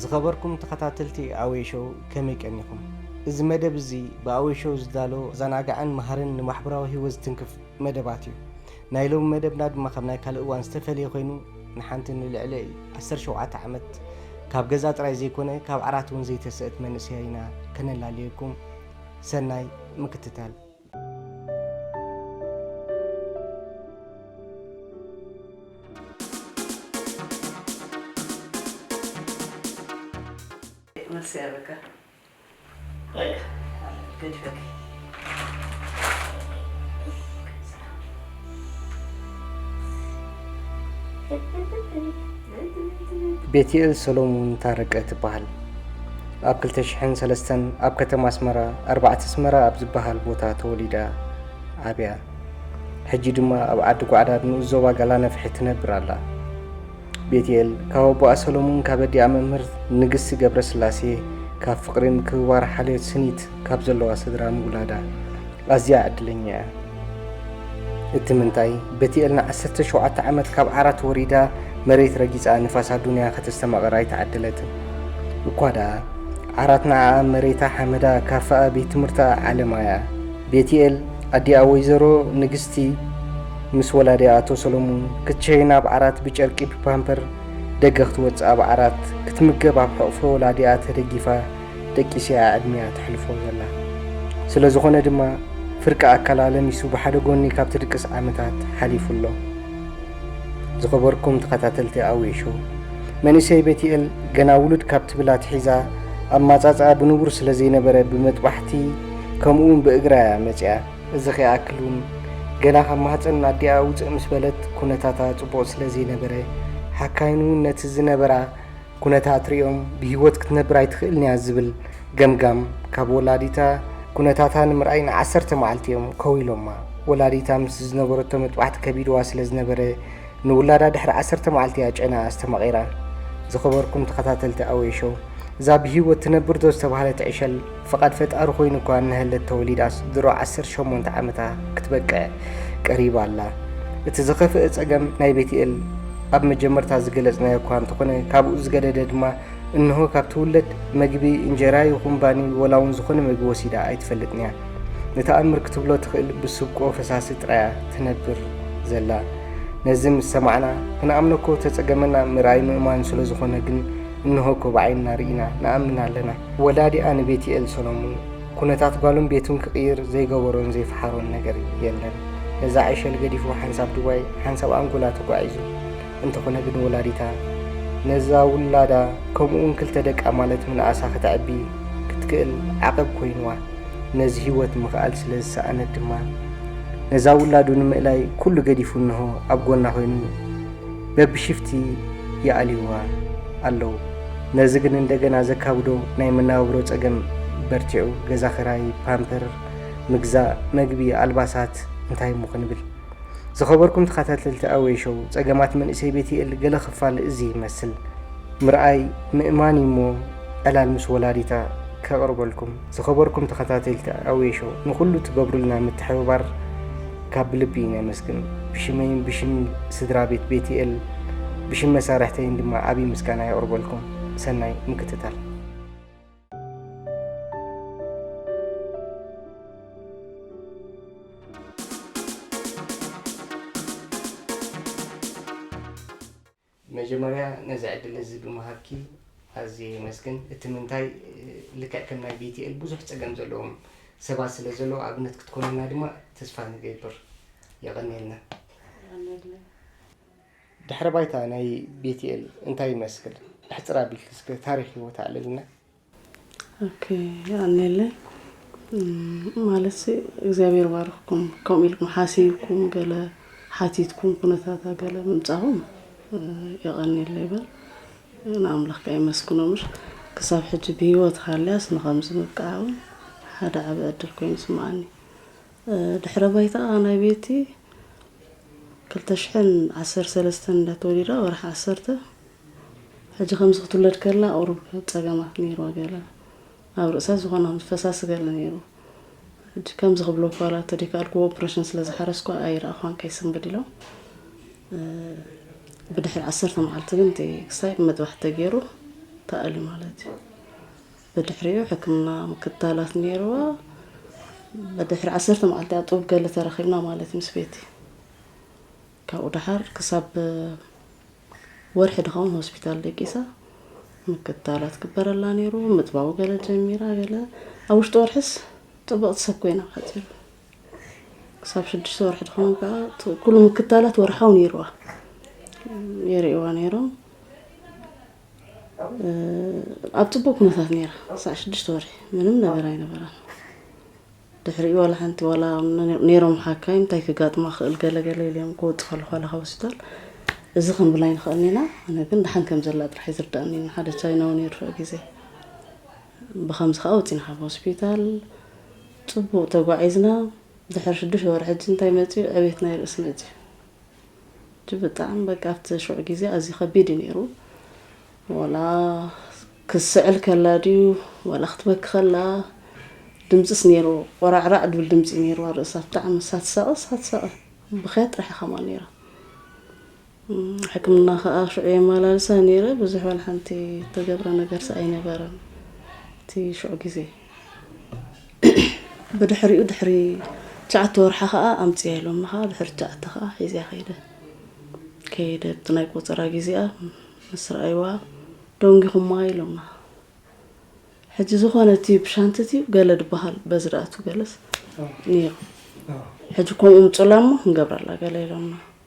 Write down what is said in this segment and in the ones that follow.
ዝኸበርኩም ተኸታተልቲ ኣወይ ሾው ከመይ ቀኒኹም? እዚ መደብ እዚ ብኣወይ ሾው ዝዳሎ ዘናጋዕን መሃርን ንማሕበራዊ ህይወት ዝትንክፍ መደባት እዩ። ናይ ሎሚ መደብና ድማ ካብ ናይ ካልእ እዋን ዝተፈለየ ኮይኑ ንሓንቲ ንልዕሊ ዓሰርተ ሸውዓተ ዓመት ካብ ገዛ ጥራይ ዘይኮነ ካብ ዓራት እውን ዘይተስእት መንእሰይ ኢና ከነላልየኩም ሰናይ ምክትታል መልሲ ያበቃ ቤትኤል ሰሎሙን ታረቀ ትበሃል ኣብ 2003 ኣብ ከተማ ኣስመራ ኣርባዕተ ኣስመራ ኣብ ዝበሃል ቦታ ተወሊዳ ዓብያ ሕጂ ድማ ኣብ ዓዲ ጓዕዳ ንኡስ ዞባ ጋላነፍሒ ትነብር ኣላ ቤትኤል ካብ ኣቦኣ ሰሎሙን ካብ ኣዲኣ መምህር ንግስቲ ገብረስላሴ ካብ ፍቕሪ ምክብባር ሓልዮት ስኒት ካብ ዘለዋ ስድራ ምውላዳ ኣዝያ ዕድለኛ እያ። እቲ ምንታይ ቤትኤል ንዓሰርተ ሸውዓተ ዓመት ካብ ዓራት ወሪዳ መሬት ረጊጻ ንፋስ ኣዱንያ ከተስተማቕር ኣይተዓደለትን። እኳ ደኣ ዓራት ንዓኣ መሬታ ሓመዳ ካፈኣ ቤት ትምህርታ ዓለማ እያ። ቤትኤል ኣዲኣ ወይዘሮ ንግስቲ ምስ ወላዲ ኣቶ ሰሎሙን ክትሸይን ኣብ ዓራት ብጨርቂ ብፓምፐር ደገ ክትወጽእ ኣብ ዓራት ክትምገብ ኣብ ሕቕፎ ወላዲኣ ተደጊፋ ደቂስ'ያ ዕድሚኣ ተሕልፎ ዘላ። ስለ ዝኾነ ድማ ፍርቂ ኣካላ ለሚሱ ብሓደ ጎኒ ካብ ትድቅስ ዓመታት ሓሊፉ ኣሎ። ዝኸበርኩም ተኸታተልቲ ኣውይ ሾው መንእሰይ ቤቲኤል ገና ውሉድ ካብ ትብል ኣትሒዛ ኣማጻጽኣ ብንቡር ስለ ዘይነበረ ብመጥባሕቲ ከምኡ'ውን ብእግራ'ያ መጺኣ። እዚ ከይኣክል እውን ገና ካብ ማህፀን ኣዲኣ ውፅእ ምስ በለት ኩነታታ ፅቡቕ ስለ ዘይነበረ ሓካይም እውን ነቲ ዝነበራ ኩነታት ሪኦም ብህይወት ክትነብር ኣይትኽእልን እያ ዝብል ገምጋም ካብ ወላዲታ ኩነታታ ንምርኣይ ንዓሰርተ መዓልቲ እዮም ከው ኢሎማ። ወላዲታ ምስ ዝነበረቶ መጥባሕቲ ከቢድዋ ስለ ዝነበረ ንውላዳ ድሕሪ ዓሰርተ መዓልቲ እያ ጨንኣ ኣስተማቒራ። ዝኸበርኩም ተኸታተልቲ ኣዌ ሾው፣ እዛ ብሂወት ትነብር ዶ ዝተባህለት ዕሸል ፍቓድ ፈጣሪ ኮይኑ እኳ እነሀለት ተወሊዳስ ድሮ ዓሰርተ ሸሞንተ ዓመታ ክትበቅዕ ቀሪባ ኣላ። እቲ ዝኸፍእ ጸገም ናይ ቤትኤል ኣብ መጀመርታ ዝገለጽናዮ እኳ እንተኾነ ካብኡ ዝገደደ ድማ እንሆ ካብ ትውለድ መግቢ እንጀራ ይኹን ባኒ ወላውን ዝኾነ መግቢ ወሲዳ ኣይትፈልጥንያ። ንተኣምር ክትብሎ ትኽእል ብስብቆ ፈሳሲ ጥራያ ትነብር ዘላ ነዚ ምስ ሰማዕና ክንኣምነኮ ተጸገመና ምርኣይ ምእማን ስለ ዝኾነ ግን እንሆኮ ብዓይንና ርኢና ንኣምን ኣለና ወላዲኣ ንቤትኤል ሰሎሙን ኩነታት ጓሉን ቤቱን ክቕይር ዘይገበሮን ዘይፈሓሮን ነገር የለን ነዛ ዕሸል ገዲፉ ሓንሳብ ዱባይ ሓንሳብ ኣንጎላ ተጓዒዙ እንተኾነ ግን ወላዲታ ነዛ ውላዳ ከምኡውን ክልተ ደቃ ማለት ምንኣሳ ከተዕቢ ክትክእል ዓቐብ ኮይንዋ። ነዚ ህይወት ምኽኣል ስለ ዝሰኣነት ድማ ነዛ ውላዱ ንምእላይ ኩሉ ገዲፉ እንሆ ኣብ ጎና ኮይኑ በብሽፍቲ ይኣልዩዋ ኣለው። ነዚ ግን እንደገና ዘካብዶ ናይ መነባብሮ ጸገም በርቲዑ ገዛ ክራይ፣ ፓምፐር ምግዛእ፣ መግቢ፣ ኣልባሳት እንታይ እሞ ክንብል። ዝኸበርኩም ተኸታተልቲ ኣዌ ሾው ጸገማት መንእሰይ ቤትኤል ገለ ክፋል እዚ ይመስል ምርኣይ ምእማን እዩ እሞ ዕላል ምስ ወላዲታ ከቕርበልኩም ዝኸበርኩም ተኸታተልቲ ኣዌ ሾው ንኹሉ ትገብሩልና ምትሕብባር ካብ ብልቢ እዩ ነመስግን ብሽመይን ብሽም ስድራ ቤት ቤትኤል ብሽም መሳርሕተይን ድማ ዓብዪ ምስጋና የቕርበልኩም ሰናይ ምክትታል መጀመርያ ነዚ ዕድል እዚ ብምሃብኪ ኣዝየ የመስግን እቲ ምንታይ ልክዕ ከም ናይ ቤትኤል ብዙሕ ፀገም ዘለዎም ሰባት ስለ ዘለዎ ኣብነት ክትኮንና ድማ ተስፋ ንገብር የቐንየልና ድሕረ ባይታ ናይ ቤትኤል እንታይ ይመስል? ሕጽር ኣቢልኪ እስከ ታሪኽ ህይወታ ኣዕልልና። ኦኬ ኣልነለይ ማለት እግዚኣብሔር ባርኽኩም ከምኡ ኢልኩም ሓሲብኩም ገለ ሓቲትኩም ኩነታታ ገለ ምምጻኹም የቐንየለይ በል ንኣምላኽ ከ የመስግኖ ምሽ ክሳብ ሕጂ ብህይወት ሃልያስ ንኸምዚ ምብቅዓ እውን ሓደ ዓበ ዕድል ኮይኑ ስምዓኒ ድሕረ ባይታኣ ናይ ቤቲ ክልተ ሽሕን ዓሰርተ ሰለስተን እዳ ተወሊዳ ወርሒ ዓሰርተ ሕጂ ከምዚ ክትውለድ ከላ ቁሩብ ጸገማት ነይርዋ ገለ ኣብ ርእሳ ዝኾነ ከም ፈሳሲ ገለ ነይሩ ሕጂ ከምዚ ክብሎ ኳላ ተደይካልኩ ኦፕሬሽን ስለ ዝሓረስኳ ኣይረኣኳን ከይስንብድ ኢሎም ብድሕሪ ዓሰርተ መዓልቲ ግን እቲ ክሳይ መጥባሕቲ ተገይሩ ተኣልዩ ማለት እዩ። ብድሕሪኡ ሕክምና ምክትታላት ነይርዋ። ብድሕሪ ዓሰርተ መዓልቲ ኣብ ጥቡብ ገለ ተራኺብና ማለት እዩ ምስ ቤቲ። ካብኡ ደሓር ክሳብ ወርሒ ድኸውን ሆስፒታል ደቂሳ ምክትታላት ክበረላ ነይሩ። ምጥባው ገለ ጀሚራ ገለ ኣብ ውሽጢ ወርሕስ ጥብቕቲ ሰብ ኮይና ሓፂሩ ክሳብ ሽዱሽተ ወርሒ ድኸውን ከዓ ኩሉ ምክትታላት ወርሓው ነይርዋ የርእዋ ነይሮም። ኣብ ፅቡቅ ኩነታት ነይራ ክሳዕ ሽዱሽተ ወርሒ ምንም ነገር ኣይነበራን ድሕሪኡ ዋላ ሓንቲ ዋላ ነይሮም ሓካይ እንታይ ክጋጥማ ክእል ገለ ገለ ኢልዮም ክወፁ ከለኩ ዋላ ካብ ሆስፒታል እዚ ክንብል ኣይንክእልን ኢና ኣነ ግን ድሓን ከም ዘላ ጥራሕ እዩ ዝርዳእኒ ሓደ ቻይናዊ ነይሩ ፍዕ ግዜ ብከምዚ ከዓ ወፂና ካብ ሆስፒታል ፅቡቅ ተጓዒዝና ድሕሪ ሽዱሽተ ወርሒ ሕጂ እንታይ መፅኡ ዕቤትና ይርእስ መፅኡ ሕጂ ብጣዕሚ በቃ ኣብቲ ሽዑ ግዜ ኣዝዩ ከቢድ እዩ ኔሩ ወላ ክትስዕል ከላ ድዩ ወላ ክትበኪ ከላ ድምጽስ ኔርዎ ቆራዕራዕ ድብል ድምጺ እዩ ኔርዋ ርእሳ ብጣዕሚ ሳትሳቐ ሳትሳቐ ብኽያት ጥራሕ እያ ከምኣ ኔራ ሕክምና ከኣ ሽዑ የመላልሳ ኔረ ብዙሕ ዋላ ሓንቲ ተገብረ ነገርስ ኣይነበረን እቲ ሽዑ ግዜ ብድሕሪኡ ድሕሪ ትሽዓተ ወርሓ ከዓ ኣምፅያ ኢሎምኒ ከዓ ድሕሪ ትሽዓተ ከዓ ሒዝያ ከይደ ከይደ እቲ ናይ ቆፀራ ግዜኣ ምስ ረኣይዋ ደንጊኹማ ኢሎምና ሕጂ ዝኾነ እቲ ብሻንቲ እቲ ገለ ዝበሃል በዚ ደኣቱ ገለስ ነይሩ ሕጂ ከምኡ ምፁላ እሞ ክንገብረላ ገለ ኢሎምና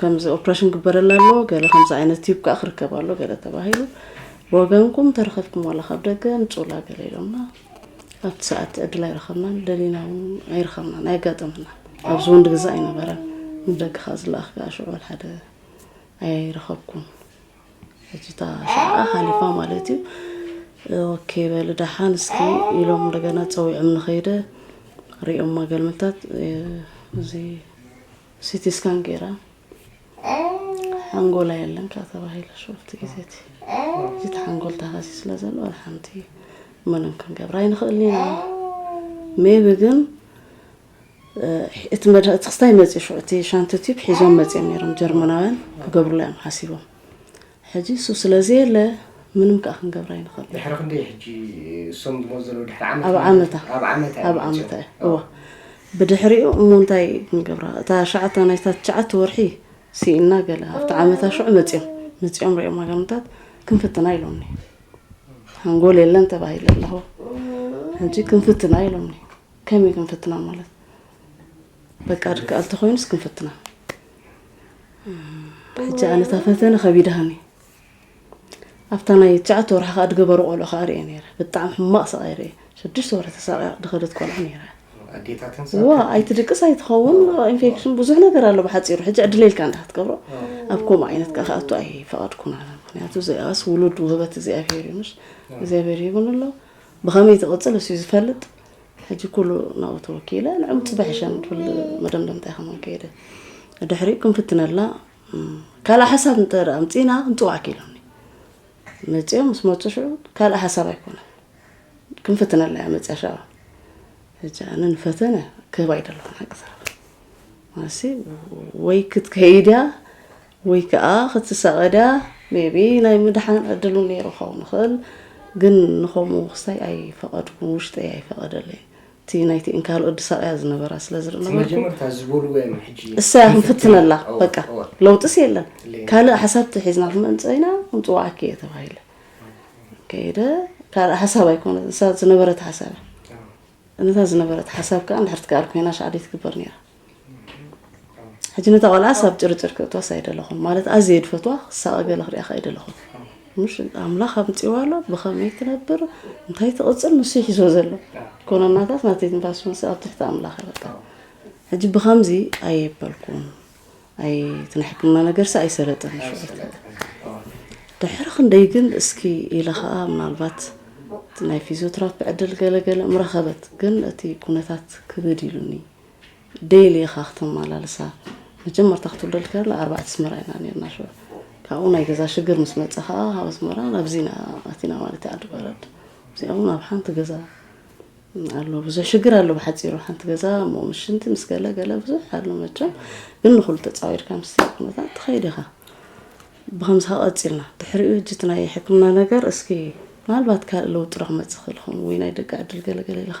ከምዚ ኦፕረሽን ግበረላ ኣሎ ገለ ከምዚ ዓይነት ቲዩብ ከዓ ክርከብ ኣሎ ገለ ተባሂሉ ብወገንኩም ተረኸብኩም ዋላ ካብ ደገ ምፅኡላ ገለ ኢሎምና ኣብቲ ሰዓት ዕድል ኣይረኸብናን ደሊና እውን ኣይረኸብናን ኣየጋጠመና ኣብዚ ወንድ ገዛ ኣይነበረን ንደገ ከዓ ዝለኣኽ ከዓ ሽዑ ሓደ ኣይረኸብኩም ሕጂ እታ ሰዓኣ ሓሊፋ ማለት እዩ ኦኬ በል ደሓን እስኪ ኢሎም እንደገና ፀዊዖም ንኸይደ ሪኦም ማገልምታት እዚ ሲቲ ስካን ገይራ ሓንጎላ የለን ካብ ተባሂለ ሸወልቲ ግዜ እቲ እቲ ሓንጎል ተሃሲ ስለ ዘሎ ወላ ሓንቲ ምንም ክንገብር ኣይንኽእልን ኢና ሜቢ ግን እቲ መድሃ እቲ ክስታይ መፅኡ ሽዑ እቲ ሻንቲ ቲብ ሒዞም መፅኦም ነይሮም ጀርመናውያን ክገብሩላ እዮም ሓሲቦም ሕጂ እሱ ስለ ዘየለ ምንም ከኣ ክንገብር ኣይንኸእልን። ድሕሪ ክንደይ ሕጂ እሶም ዝመጹ ዘለዉ ድሕሪ ዓመት ኣብ ዓመታ ኣብ ዓመታ ኣብ እዮም ዓመታ መጺኦም? እዩ እወ ብድሕሪኡ እሞ እንታይ ክንገብራ እታ ሸዓታ ናይታ ትሽዓተ ወርሒ ስኢንና ገለ ኣብቲ ዓመታ ሽዑ መጺኦም መጺኦም ሪኦም ሃገርምታት ክንፍትና ኢሎምኒ ሓንጎል የለን ተባሂለ ኣለኹ ሕጂ ክንፍትና ኢሎምኒ ከመይ ክንፍትና ማለት በቃ ድክኣል ተኮይኑስ ክንፍትና ሕጂ ኣነ እታ ፈተነ ከቢድሃኒ ኣብታ ናይ ትሽዓተ ወርሒ ከዓ ድገበሩ ቆልዑ ከዓ ርኤ ነረ ብጣዕሚ ሕማቅ ስቃይ ርኤ ሽዱሽተ ወርሒ ተሳቂያ ድኸደት ቆልዑ ነረ ዋ ኣይትድቅስ ኣይትኸውን ኢንፌክሽን ብዙሕ ነገር ኣሎ ብሓፂሩ ሕጂ ዕድለ ኢልካ እንዳ ክትገብሮ ኣብ ከምኡ ዓይነት ከዓ ክኣቱ ኣይፈቐድኩን ኣነ ምክንያቱ ዘይኣስ ውሉድ ውህበት እግዚኣብሄር እዩ ምሽ እግዚኣብሄር ይብን ኣሎ ብኸመይ ዝቕጽል እሱዩ ዝፈልጥ ሕጂ ኩሉ ናብኡ ተወኪለ ንዕኡ ጽባሕ ይሸም ትብል መደምደምታ ኢኻ መንከይደ ድሕሪኡ ክንፍትነላ ካልእ ሓሳብ እንተ ኣምፂና ክንፅዋዕ ክኢሎም መፅኦም ምስ መፁ ሽዑ ካልእ ሓሳብ ኣይኮነ ክንፍትነላ እያ መፅያ ሸባ ሕጂ ኣነ ንፈተነ ክህባ ይደለኹ ሓቂ ወይ ክትከይድ እያ ወይ ከኣ ክትሳቐ ድያ ሜቢ ናይ ምድሓን ዕድል ውን ነይሩ ክኸውን ይኽእል ግን ንኸምኡ ክስታይ ኣይፈቐድኩን ውሽጠይ ኣይፈቐደለይን እቲ ናይቲ እንካል ወዲ ሳቕያ ዝነበራ ስለ ዝነበርኩ እሰያ ክንፍትነላ በቃ ለውጥስ የለን ካልእ ሓሳብ ተሒዝና ክንመንጽእ ኢና ክንጽውዓኪ እየ ተባሂለ ከይደ ካልእ ሓሳብ ኣይኮነ ዝነበረት ሓሳብ እያ እነታ ዝነበረት ሓሳብ ከዓ ንሕርቲ ከኣል ኮይና ሻዕደይ ትግበር ነይራ ሕጂ ነታ ቆልዓስ ኣብ ጭርጭር ክእትዋስ ኣይደለኹን ማለት ኣዝየ ድፈትዋ ክሳቐ ገለ ክሪኣ ከይደለኹን ምሽ ኣምላኽ ኣምፅዋ ኣሎ ብኸመይ ትነብር እንታይ ትቕፅል ንሱ ይሒዞ ዘሎ ኮነናታት ናቲ ትንፋስ ምስ ኣብ ትሕቲ ኣምላኽ በቃ ሕጂ ብኸምዚ ኣየበልኩም ኣይ ትንሕክምና ነገርሲ ኣይሰለጥን ድሕሪ ክንደይ ግን እስኪ ኢለ ከዓ ምናልባት ናይ ፊዚዮትራፒ ዕድል ገለገለ ምረኸበት ግን እቲ ኩነታት ክብድ ኢሉኒ ዴሊ ኢኻ ክተማላልሳ መጀመርታ ክትውለድ ከላ ኣርባዕተ ኣስመራ ኢና ነርና ሽዑ ካብኡ ናይ ገዛ ሽግር ምስ መፀ ከዓ ካብ ኣስመራ ናብዚ ኢና ኣቲና ማለት እዩ ዓዲ በረድ እዚኦም ናብ ሓንቲ ገዛ ኣሎ ብዙሕ ሽግር ኣሎ ብሓፂሩ ሓንቲ ገዛ እሞ ምስ ሽንቲ ምስ ገለ ገለ ብዙሕ ኣሎ መቸም ግን ንኩሉ ተፃዊርካ ምስ ኩነታት ትኸይድ ኢኻ ብከምዚ ከዓ ቀፂልና ድሕሪኡ እጅ እቲ ናይ ሕክምና ነገር እስኪ ምናልባት ካልእ ለውጢ ዶ ክመፅእ ክእል ይኸውን ወይ ናይ ደቂ ዕድል ገለገለ ኢልካ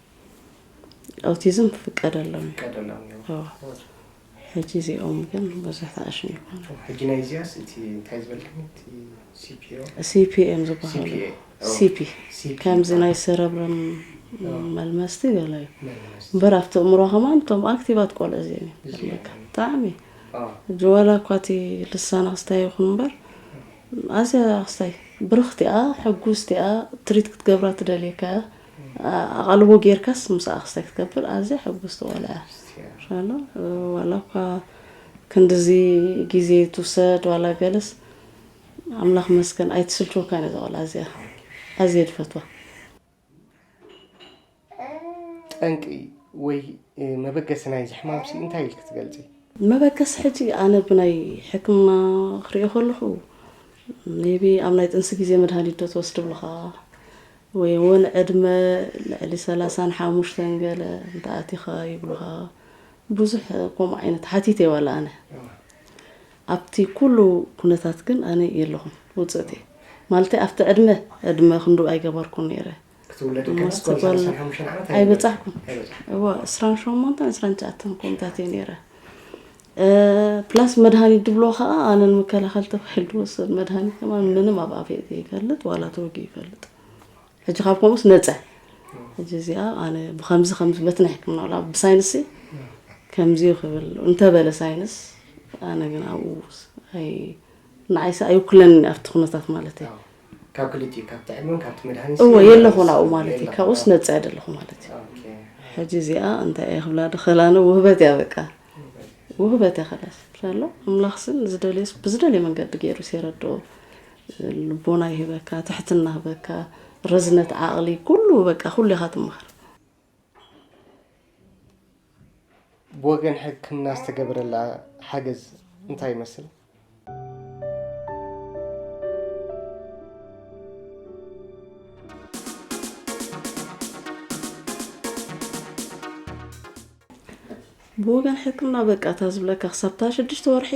ኣውቲዝም ክፍቀድ ኣለዎ ክፍቀድ ኣለዎ ሕጂ እዚኦም ግን ብዙሕ ተኣሽም ይኮኑ ሕጂ ናይ እዚያስ እቲ እንታይ ዝበልክኒ እቲ ሲፒኦ ሲፒኤም ዝበሃሉ ሲፒ ከምዚ ናይ ሰረብረም መልመስቲ ገለ እዩ እምበር ኣብቲ እምሮ ከማን እቶም ኣክቲቫት ቆልዑ እዚኦም እዮም ብጣዕሚ ሕጂ ዋላ እኳ እቲ ልሳና ክስታይ ይኹን እምበር ኣዝያ ክስታይ ብርኽቲኣ ሕጉስቲኣ ትሪት ክትገብራ ትደልየካ እያ ኣቓልቦ ጌርካስ ምሳኣ ክስታይ ክትገብር ኣዝያ ሕጉስቲ ቆልዓ እያ ሻላ ዋላ እኳ ክንድዚ ግዜ ትውሰድ ዋላ ገለስ ኣምላኽ መስገን ኣይትስልችወካን እያ ዘቆልዓ እዚኣ ኣዝየ ድፈትዋ ጠንቂ ወይ መበገሲ ናይዚ ሕማምሲ እንታይ ኢልክ ትገልፂ መበገሲ ሕጂ ኣነ ብናይ ሕክምና ክሪኦ ከለኹ ሜቢ ኣብ ናይ ጥንሲ ግዜ መድሃኒት ዶ ትወስድ ብልኻ ወይ ውን ዕድመ ልዕሊ ሰላሳን ሓሙሽተን ገለ እንተ ኣቲኻ ይብሉኻ ብዙሕ ከምኡ ዓይነት ሓቲተ ዋላ ኣነ ኣብቲ ኩሉ ኩነታት ግን ኣነ የለኹን ውጽእት እየ ማለተይ ኣብቲ ዕድመ ዕድመ ክንዱ ኣይገበርኩን ነይረ ኣይበጻሕኩን እዎ ዕስራን ሸሞንተን ዕስራን ትሽዓተን ኮምታት እየ ነይረ ፕላስ መድሃኒት ድብልዎ ከኣ ኣነ ንምከላኸል ተባሂሉ ድወሰድ መድሃኒት ከማን ምንም ኣብ ኣፍየ ዘይፈልጥ ዋላ ተወጊኡ ይፈልጥ ሕጂ ካብ ከምኡስ ነጸ ሕጂ እዚኣ ኣነ ብከምዚ ከምዚ በቲ ናይ ሕክምና ዋላ ብሳይንስሲ ከምዚ እዩ ክብል እንተበለ ሳይንስ ኣነ ግን ኣብኡ ኣይ ንዓይሰ ኣይውክለኒ ኣብቲ ኩነታት ማለት እዩ ካብ ክልቲኡ ካብ ጥዕምን ካብቲ መድሃኒት እወ የለኹን ኣብኡ ማለት እዩ ካብኡስ ነጻ የደለኹ ማለት እዩ ሕጂ እዚኣ እንታይ እየ ክብላ ድኸላነ ውህበት እያ በቃ ውህበተ ክእለት ኣሎ ኣምላኽ ስን ዝደልዮስ ብዝደልዮ መንገዲ ገይሩ ሲረድኦ ልቦና ይህበካ ትሕትና ህበካ ረዝነት ዓቕሊ ኩሉ በቃ ኩሉ ኢኻ ትመሃር ብወገን ሕክምና ዝተገበረላ ሓገዝ እንታይ ይመስል? ብወገን ሕክምና በቃ እታ ዝብለካ ክሳብታ ሽዱሽተ ወርሒ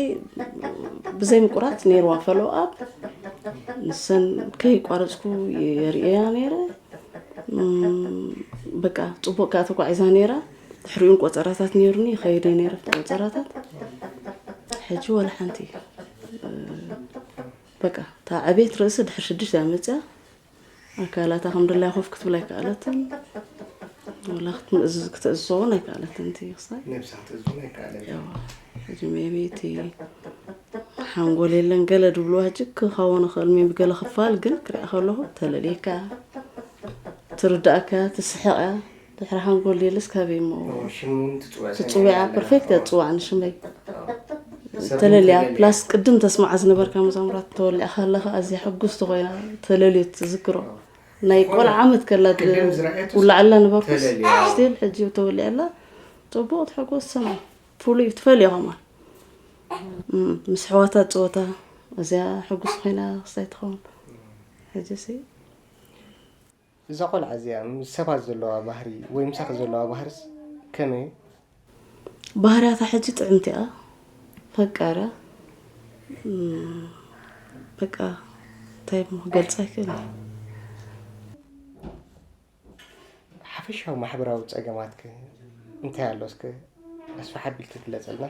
ብዘይ ምቁራፅ ነይርዋ ፈሎ ኣብ ንሰን ከይቋረፅኩ የርእያ ነይረ በቃ ፅቡቅ ከዓ ተጓዒዛ ነይራ ድሕሪኡን ቆፀራታት ነይሩኒ ይኸይድ እየ ነይረ ቆፀራታት ሕጂ ወላ ሓንቲ በቃ እታ ዕቤት ርእሲ ድሕሪ ሽዱሽተ እያ መፅያ ኣካላታ ከም ድላይ ኮፍ ክትብል ኣይከኣለትን ወላ ክትምእዝዝ ክትእዝዞ እውን ኣይከኣለትን እቲ ክሳይ ሕጂ ሜቢ እቲ ሓንጎል የለን ገለ ድብልዋ ሕጂ ክኸውን ይኽእል ሜቢ ገለ ክፋል ግን ክሪኣ ከለኹ ተለልየካ ትርዳእካ ትስሕቕ እያ ድሕሪ ሓንጎል ዲልስ ከበይ እሞ ትፅውያ ፐርፌክት እያ ትፅዋዕ ንሽመይ ተለልያ ፕላስ ቅድም ተስማዓ ዝነበርካ መዛሙራት ተወሊዕካ ከለካ ኣዝያ ሕጉስቲ ኮይና ተለልዩ ትዝክሮ ናይ ቆልዓ ዓመት ከላ ውላዕላ ነበርኩስ ስቲል ሕጂ ተወሊዐላ ፅቡቅ ትሕጎስ ሰማይ ፍሉይ ትፈልዮ ከማ ምስ ሕዋታ ፀወታ እዚያ ሕጉስ ኮይና ክስታይ ትኸውን ሕጂ ሲ እዛ ቆልዓ እዚኣ ምስ ሰባት ዘለዋ ባህሪ ወይ ምሳኺ ዘለዋ ባህርስ ከመይ እዩ? ባህርያታ ሕጂ ጥዕምቲ እያ ፈቃራ በቃ እንታይ እሞ ክገልጻ ኣይክእልን። ሓፈሻዊ ማሕበራዊ ጸገማትክ እንታይ ኣሎ እስከ ኣስፍሕ ኣቢልክ ግለጸልና።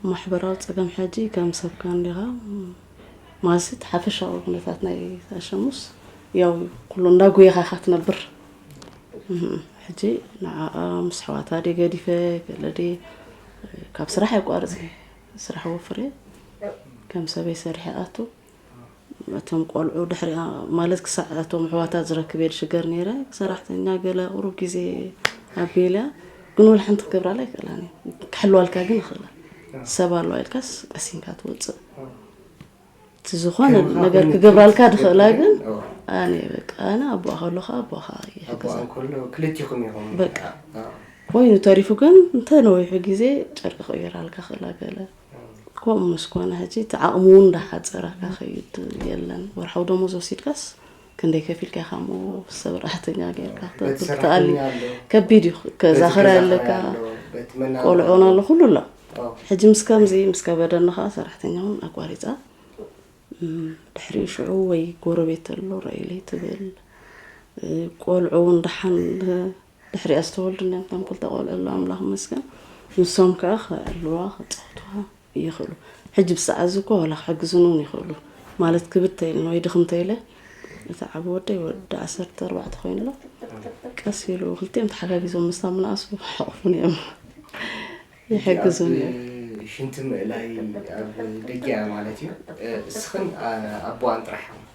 ማሕበራዊ ጸገም ሕጂ ከም ሰብካ እንዲኻ ማለትሲ እቲ ሓፈሻዊ ኩነታት ናይ ኣሸሙስ ያው እዩ ኩሉ እንዳጎየኻ ኢኻ ትነብር ሕጂ ንዓኣ ምስ ኣሕዋታ ድየ ገዲፈ ገለ ድየ ካብ ስራሕ ኣይቋርጽ ስራሕ ወፍር እየ ከም ሰበይ ሰሪሐ ኣቱ እቶም ቆልዑ ድሕሪኣ ማለት ክሳዕ እቶም ኣሕዋታ ዝረክብ እየ ዝሽገር ነይረ ሰራሕተኛ ገለ ቁሩብ ግዜ ኣቢለ ግን ወላ ሓንቲ ክገብራላ ይክእላን እዩ ክሕልዋልካ ግን ይኽእላ ሰብ ኣለዋ ኢልካስ ቀሲንካ ትወፅእ እቲ ዝኾነ ነገር ክገብራልካ ድኽእላ ግን ኣነ በቃ ኣነ ኣቦኣ ከለካ ኣቦኻ ይሕግዛ ክልቲኹም ኢኹም በቃ ኮይኑ ተሪፉ ግን እንተ ነዊሑ ግዜ ጨርቂ ክቕይራልካ ክእላ ገለ ከምኡ ምስ ኮነ ሕጂ እቲ ዓቕሚ እውን እንዳሓፀረካ ከይድ የለን ወርሓዊ ደሞዝ ወሲድካስ ክንደይ ከፊልካ ኢኻ እሞ ሰራሕተኛ ጌርካ ክትኣሊ ከቢድ እዩ ከዛ ክራይ ኣለካ ቆልዑ ውን ኣሎ ኩሉ ኣሎ ሕጂ ምስ ከምዚ ምስ ከበደኒ ከዓ ሰራሕተኛ እውን ኣቋሪፃ ድሕሪ ሽዑ ወይ ጎረቤት ኣሎ ረኢለይ ትብል ቆልዑ እውን ደሓን ድሕሪኣ ዝተወልዱልና እቶም ክልተ ቆልዑ ኣለው ኣምላኽ ይመስገን ንሶም ከኣ ክዕልዋ ክጻወቱዋ ይኽእሉ ሕጂ ብሰዓት እዚ እኮ ዋላ ክሕግዙኒ እውን ይኽእሉ ማለት ክብተ ኢለን ወይ ድኽም ተኢለ እቲ ዓብ ወደይ ወዲ ዓሰርተ ኣርባዕተ ኮይኑ ኣሎ ቀስ ኢሉ ክልቲኦም ተሓጋጊዞም ምስታ ምንኣሱ ሕቕፉን እዮም ይሕግዙን እዮም ሽንቲ ምእላይ ኣብ ደጊኣ ማለት እዩ እስኽን ኣቦዋን ጥራሕ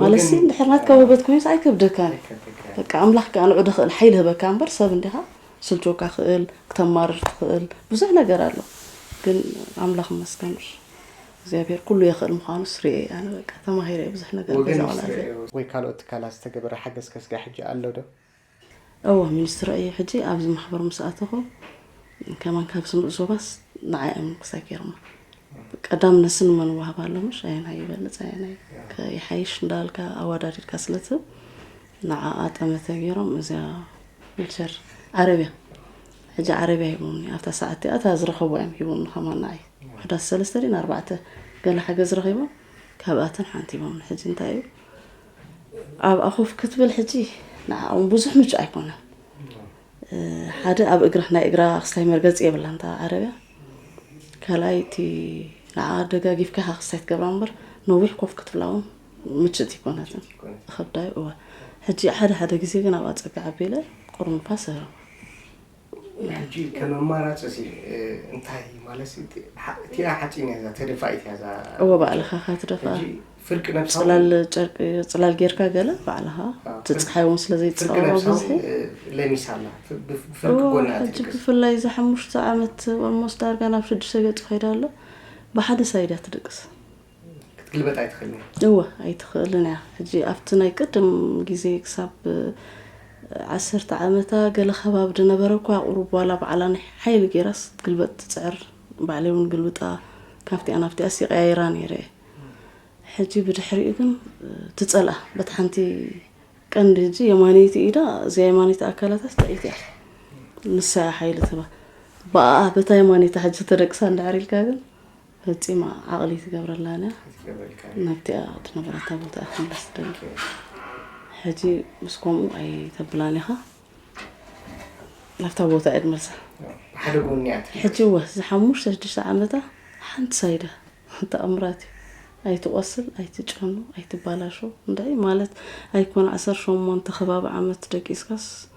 ማለሲ እንድሕር ናትካ ውህበት ኮይኑስ ኣይከብደካን በቃ ኣምላኽ ከዓ ንዑ ደኽእል ሓይሊ ህበካ እምበር ሰብ እንዲኻ ስልቾካ ክእል ክተማርር ትኽእል ብዙሕ ነገር ኣሎ ግን ኣምላኽ መስገን እግዚኣብሔር ኩሉ የኽእል ምዃኑ ስርኤ ኣነ በቃ ተማሂረ ብዙሕ ነገር ወይ ካልኦት ትካላት ዝተገበረ ሓገዝ ከስጋ ሕጂ ኣሎ ዶ እወ ሚኒስትሮ እየ ሕጂ ኣብዚ ማሕበር ምስ ኣተኹ ከማን ካብ ስምዑ ዞባስ ንዓይ እዮም ክሳይ ገይሮማ ቀዳምነት ስን መን ዋህብ ኣሎ ምሽ ኣየናይ ይበልፅ ኣየናይ ይሓይሽ እንዳልካ ኣወዳዲድካ ስለትብ ንዓኣ ጠመተ ገይሮም እዚያ ዊልቸር ዓረብያ ሕጂ ዓረብያ ሂቦምኒ ኣብታ ሰዓት እቲኣ እታ ዝረኸብዋ እዮም ሂቦምኒ ከማን ንዓይ ሕዳስ ሰለስተ ድን ኣርባዕተ ገለ ሓገዝ ረኺቦም ካብኣተን ሓንቲ ሂቦምኒ ሕጂ እንታይ እዩ ኣብኣ ኮፍ ክትብል ሕጂ ንዓኦም ብዙሕ ምቹእ ኣይኮነን ሓደ ኣብ እግራ ናይ እግራ ክስታይ መርገፂ የብላ እንታ ዓረብያ ካልኣይ እቲ ንዓ ደጋጊፍካ ኢኻ ክስታይ ትገብራ እምበር ነዊሕ ኮፍ ክትብላ እውን ምችእቲ ይኮነትን ከብዳዩ እወ ሕጂ ሓደ ሓደ ግዜ ግን ኣብኣ ፀጋ ዓቢለ ቁሩብ ንፋስ እህረም ሕጂ ከም ኣማራጺ እንታይ ማለት እቲኣ ሓጺን እያ እዛ ተደፋኢት እያ እዛ እወ ባዕልኻ እኻ ትደፋ ፍርቂ ነብሳ ጽላል ጨርቂ ጽላል ጌርካ ገለ ባዕልኻ ትጽሓይ እውን ስለ ዘይትጻወሮ ብዝሒ ለሚሳ ኣላ ብፍርቂ ጎና ሕጂ ብፍላይ እዛ ሓሙሽተ ዓመት ኦልሞስት ዳርጋ ናብ ሽዱሽተ ገጹ ከይዳ ኣሎ ብሓደ ሳይድ እያ ትድቅስ ክትግልበጥ ኣይትኽእልን እያ እወ ኣይትኽእልን እያ ሕጂ ኣብቲ ናይ ቅድም ግዜ ክሳብ ዓሰርተ ዓመታ ገለ ከባቢ ዝነበረ እኳ ቁሩብ ዋላ ባዕላ ናይ ሓይሊ ገይራስ ክትግልበጥ ትፅዕር ባዕለይ እውን ግልብጣ ካብቲኣ ናብቲኣስ ይቀያይራ ነይረ እየ ሕጂ ብድሕሪኡ ግን ትፀልኣ በቲ ሓንቲ ቀንዲ ሕጂ የማነይቲ ኢዳ እዚኣ የማነይቲ ኣካላታ ስተዒት እያ ንሳ ሓይሊ ትህባ ብኣ በታ የማነይቲ ሕጂ ተደቅሳ እንዳዕር ኢልካ ግን ፈጺማ ዓቕሊ ትገብረላ ኣላ ኣይትገብረልካን ናብቲኣ ትነብረታ ቦታ እያ ክትምለስ ትደሊ ኦኬ ሕጂ ምስ ከምኡ ኣይተብላን ኢኻ ናብታ ቦታ እያ ትመልሳ ብሓደ ጎኒ እያ ትብል ሕጂ እወ እዚ ሓሙሽተ ሽዱሽተ ዓመታ ሓንቲ ሳይዳ ተኣምራት እዩ ኣይትቆስል ኣይትጨኑ ኣይትባላሾ እንታይ ማለት ኣይኮነ ዓሰርተ ሸሞንተ ከባቢ ዓመት ደቂስካስ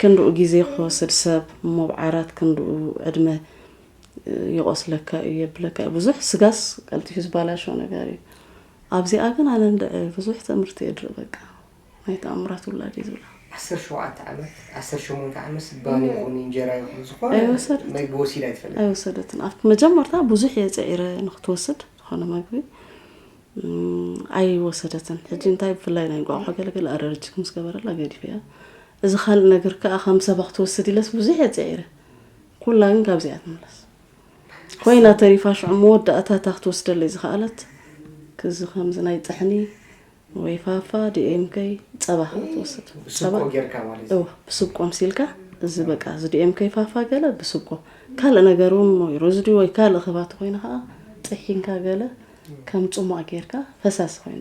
ክንድኡ ግዜ ክወስድ ሰብ ሞብዓራት ክንድኡ ዕድመ ይቆስለካ እዩ የብለካ እዩ ብዙሕ ስጋስ ቀልጢፉ ዝባላሾ ነገር እዩ ኣብዚኣ ግን ኣነ እንድዒ ብዙሕ ትእምርቲ እየ ድርኢ በቃ ናይ ተኣምራት ውላድ እዩ ዝብላ ዓሰርተ ሸውዓተ ዓመት ዓሰርተ ሸሞንተ ዓመት ስባን ይኹን እንጀራ ይኹን ዝኾነ ኣይወሰደትን። መግቢ ወሲዳ ኣይትፈልጥን። ኣይወሰደትን ኣብ መጀመርታ ብዙሕ እየ ፅዒረ ንክትወስድ ዝኾነ መግቢ ኣይወሰደትን ሕጂ እንታይ ብፍላይ ናይ እንቋቑሖ ገለ ገለ ኣረርጂክ ምስ ገበረላ ገዲፈያ እዚ ካልእ ነገር ከኣ ከም ሰባ ክትወስድ ኢለስ ብዙሕ እየ ጽዒረ ኩላ ግን ካብዚ እያ ትምለስ ኮይና ተሪፋ ሽዑ መወዳእታ እታ ክትወስደለይ ዝኸኣለት ክዚ ከምዚ ናይ ጥሕኒ ወይ ፋፋ ዲኤምከይ ጸባ ከኣ ትወስድ ጸባ ብስብቆ ምሲልካ እዚ በቃ እዚ ዲኤም ከይፋፋ ገለ ብስብኮ ካልእ ነገር እውን ወይ ሮዝዲ ወይ ካልእ ክባት ኮይነ ከዓ ጥሒንካ ገለ ከም ጽሟቕ ጌርካ ፈሳሲ ኮይኑ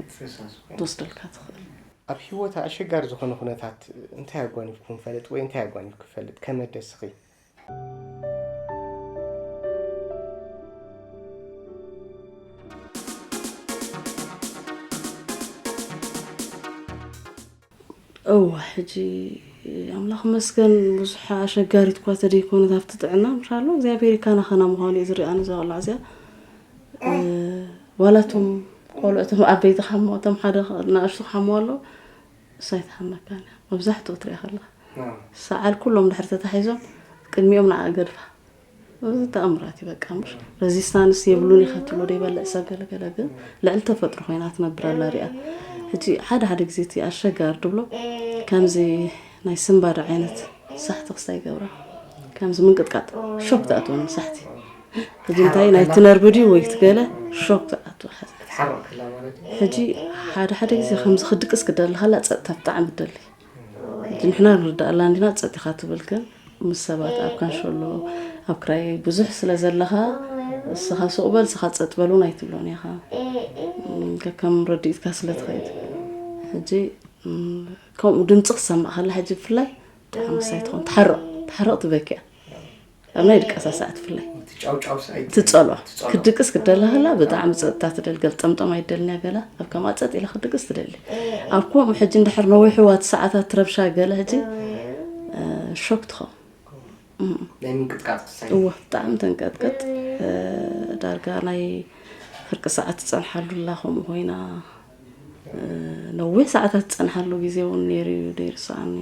ትወስደልካ ትኽእል። ኣብ ህይወት ኣሸጋሪ ዝኾነ ኩነታት እንታይ ኣጓኒፍኩም ፈልጥ ወይ እንታይ ኣጓኒፍ ክፈልጥ ከመደስኺ? እወ ሕጂ ኣምላኽ መስገን ብዙሕ ኣሸጋሪት እኳ ተደይኮነት ኣብቲ ጥዕና ምሻሎ እግዚኣብሔር ካና ካና ምዃኑ እዩ ዝርኣ ንዛ ቆልዓ እዚኣ ዋላ እቶም ቆልዑ እቶም ዓበይቲ ክሓምዎ እቶም ሓደ ንኣሽቱ ክሓምዎ ኣለዉ እሳ ኣይትሓመካን እያ መብዛሕትኡ ትሪኣ ከለካ ሰዓል ኩሎም ድሕሪ ተታሒዞም ቅድሚኦም ንዓ ገድፋ እዚ ተኣምራት እዩ በቃ ምሽ ረዚስታንስ የብሉን ኢኻ ትብሎ ዶ ይበልዕ ሰብ ገለገለ ግን ልዕሊ ተፈጥሮ ኮይና ትነብር ኣላ ሪኣ ሕጂ ሓደ ሓደ ግዜ እቲ ኣሸጋሪ ትብሎ ከምዚ ናይ ስምባድ ዓይነት ሳሕቲ ክስታ ይገብራ ከምዚ ምንቅጥቃጥ ሾክ ትኣትወኒ ሳሕቲ ሕጂ እንታይ ናይ ትነርቢ ድዩ ወይ ትገለ ሾክ ትኣትወ ሕጂ ሓደ ሓደ ግዜ ከምዚ ክድቅስ ክደሊ ከላ ፀጥታ ብጣዕሚ ትደሊ እቲ ንሕና ንርዳኣላ እንዲና ጸጥ ኢኻ ትብል ግን ምስ ሰባት ኣብ ካንሸሎ ኣብ ክራይ ብዙሕ ስለ ዘለኻ እስኻ ሱቕ በል እስኻ ጸጥ በል እውን ኣይትብሎን ኢኻ ከከም ረድኢትካ ስለ ትኸይድ ሕጂ ከምኡ ድምፂ ክሰማእ ከላ ሕጂ ብፍላይ ብጣዕሚ ሳይ ትኾን ትሓርቕ ትሓርቕ ትበኪያ ከመይ ድቀሳሳ ክትፍላይ ትጸሏ ክድቅስ ክደላ ከላ ብጣዕሚ ፀጥታ ትደል ገልጠምጠም ኣይደልንያ ገላ ኣብ ከምኣ ፀጥ ኢላ ክድቅስ ትደሊ ኣብ ከምኡ ሕጂ እንድሕር ነዊሕዋ እቲ ሰዓታት ትረብሻ ገለ ሕጂ ሾክ ትኸው እዎ ብጣዕሚ ተንቀጥቀጥ ዳርጋ ናይ ፍርቂ ሰዓት ትፀንሓሉ ኣላ ከምኡ ኮይና ነዊሕ ሰዓታት ዝጸንሓሉ ግዜ እውን ነይሩ እዩ ዘይርስዓኒ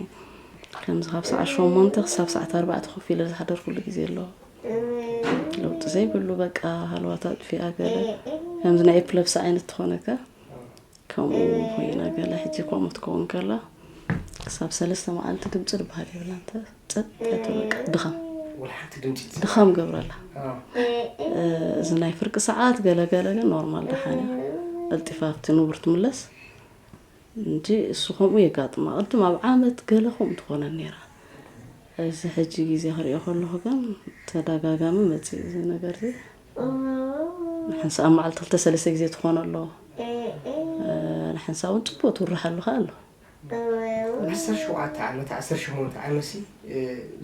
ከምዚ ካብ ሰዓት ሸሞንተ ክሳብ ሰዓት ኣርባዕተ ኮፍ ኢለ ዝሓደርኩሉ ግዜ ኣሎ ለውጢ ዘይብሉ በቃ ሃለዋት ኣጥፊኣ ገለ ከምዚ ናይ ኤፕለብሲ ዓይነት ትኾነካ ከምኡ ኮይና ገለ ሕጂ ከምኡ ትከውን ከላ ክሳብ ሰለስተ መዓልቲ ድምፂ ዝበሃል የብላ እንተ ጸጥታ በቃ ድኸም ድኸም ገብረላ እዚ ናይ ፍርቂ ሰዓት ገለገለ ግን ኖርማል ደሓን እያ ቀልጢፋ ኣብቲ ንቡር ትምለስ እንጂ እሱ ከምኡ የጋጥማ ቅድም ኣብ ዓመት ገለ ከምኡ ትኾነ ነይራ እዚ ሕጂ ግዜ ክሪኦ ከለኹ ግን ተደጋጋሚ መፅእ እዚ ነገር እዚ ንሓንሳ ኣብ መዓልቲ ክልተ ሰለስተ ግዜ ትኾነ ኣሎ ንሓንሳ እውን ፅቡቅ ትውርሓሉ ከ ኣሎ ን ዓሰርተ ሸውዓተ ዓመት ዓሰርተ ሸሞንተ ዓመሲ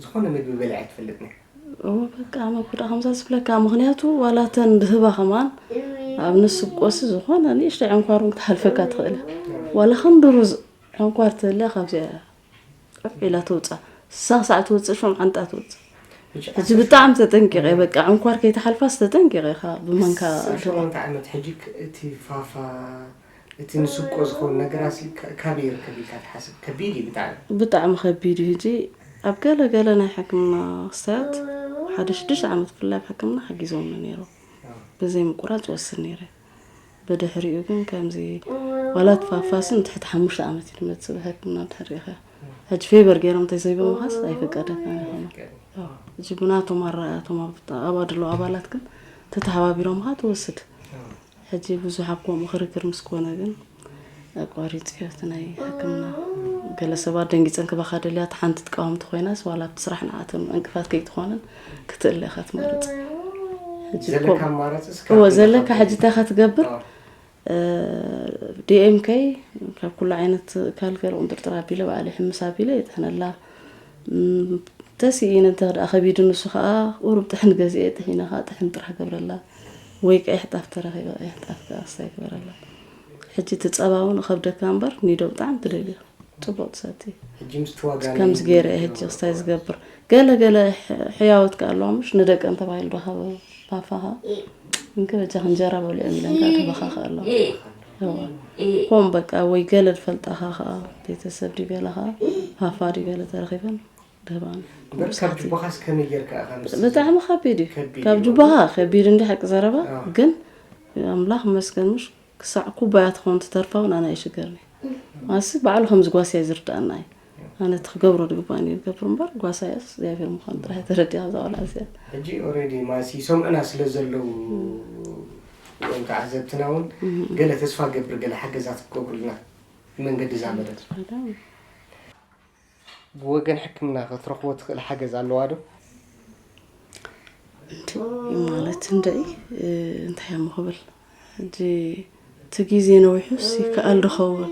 ዝኾነ ምግቢ በሊዓ ኣይትፈልጥን እያ። በቃ መጉዳ ከምዛ ዝብለካ ምክንያቱ ዋላ እተን ብህባ ከማን ኣብ ንስብ ቆሲ ዝኾነ ንእሽተይ ዕንኳር እውን ክትሃልፈካ ትኽእል ዋላ ክንዲ ሩዝ ዕንኳር ትህልያ ካብዚኣ ዑፍ ኢላ ትውፃእ ስሳ ክሳዕ ትውፅእ ሸምዓንጣ ትውፅእ ሕጂ ብጣዕሚ ተጠንቂቀ በቃ ዕንኳር ከይተሓልፋስ ተጠንቂቀ ኢኻ ብመንካ ሸሞንተ ዓመት ሕጂ እቲ ፋፋ እቲ ንስብቆ ዝኸውን ነገራሲ ካበይ ይርከብ ኢልካ ትሓስብ? ከቢድ እዩ ብጣዕሚ። ብጣዕሚ ከቢድ እዩ ሕጂ ኣብ ገለ ገለ ናይ ሕክምና ክስታያት ሓደ ሽዱሽተ ዓመት ብፍላይ ኣብ ሕክምና ሓጊዞምኒ ነይሮም ብዘይ ምቁራጽ ወስድ ነይረ ብድሕሪኡ ግን ከምዚ ዋላ ትፋፋስን ትሕቲ ሓሙሽተ ዓመት እዩ ድመጽእ ብሕክምና ድሕር ሪኢኻ ሕጂ ፌበር ገይሮም ተዘይበምኻስ ኣይፍቀደካን ይኾኑ ሕጂ ብናቶም ኣረኣያቶም ኣብ ኣድሎ ኣባላት ግን ተተሓባቢሮምኻ ትወስድ ሕጂ ብዙሕ ኣብ ከምኡ ክርክር ምስ ኮነ ግን ኣቋሪጸዮ እቲ ናይ ሕክምና ገለ ሰባት ደንጊጸን ክባኻ ደልያ እቲ ሓንቲ ትቃወምቲ ኮይናስ ዋላ ኣብቲ ስራሕ ንዓቶም ዕንቅፋት ከይትኾነን ክትእለ ኢኻ ትመርጽ እወ ዘለካ ሕጂ እንታይ ኢኻ ትገብር ዲኤምከይ ካብ ኩሉ ዓይነት ካልገር ቁንጥርጥር ኣቢለ በዓል ይሕምስ ኣቢለ የጥሕነላ ተሲኢኑ እንተድኣ ከቢዱ ንሱ ከኣ ቁሩብ ጥሕን ገዚኤ ጥሒነ ከኣ ጥሕን ጥራሕ ገብረላ ወይ ቀይሕ ጣፍ ተረኺበ ቀይሕ ጣፍ ከኣ ክሳይ ግበረላ ሕጂ እቲ ጸባ እውን ከብደካ እምበር ኒዶ ብጣዕሚ ትደልዮ ጽቡቕ ትሰቲ ከምዚ ገይረ እየ ሕጂ ክስታይ ዝገብር ገለ ገለ ሕያወት ከ ኣለዋ ምሽ ንደቀን ተባሂሉ ዶ ካብ ባፋኻ እንከ በጃኽ እንጀራ በልዑ ኢለን ከኣ ተበኻኸ ኣለዋ ሆም በቃ ወይ ገለ ዝፈልጣኻ ከዓ ቤተሰብ ድዩ ገለ ከዓ ሃፋ ድዩ ገለ ተረኺበን ደህባን ካብ ጁባኻስ ከመይ ጌርካ ኢኻ ምስ ብጣዕሚ ከቢድ እዩ ከቢድ ካብ እዩ። ጁባኻ ከቢድ እንዲ ሓቂ ዘረባ አዎ። ግን ኣምላኽ መስገን ምሽ ክሳዕ ኩባያ ትኸውን ትተርፋ እውን ኣነ ኣይሽገርኒ ማሲ ባዕሉ ከም ዝጓስያ እዩ ዝርዳኣና እዩ ማለት ክገብሮ ዝግባእ ነይሩ ገብሮ እምበር ጓሳ እያስ እግዚኣብሔር ምዃኑ ጥራሕ ተረዲኣ እዛ ቆልዓ እዚኣ ሕጂ ኦልሬዲ ማሲ ይሰምዑና ስለ ዘለዉ ወይም ከዓ ዘብትና እውን ገለ ተስፋ ገብር ገለ ሓገዛት ክገብሩልና ብመንገዲ እዛ መደብ ብወገን ሕክምና ክትረኽቦ ትኽእል ሓገዝ ኣለዋ ዶ ማለት እንደይ እንታይ እሞ ክብል ሕጂ እቲ ግዜ ነዊሑስ ይከኣል ዶ ኸውን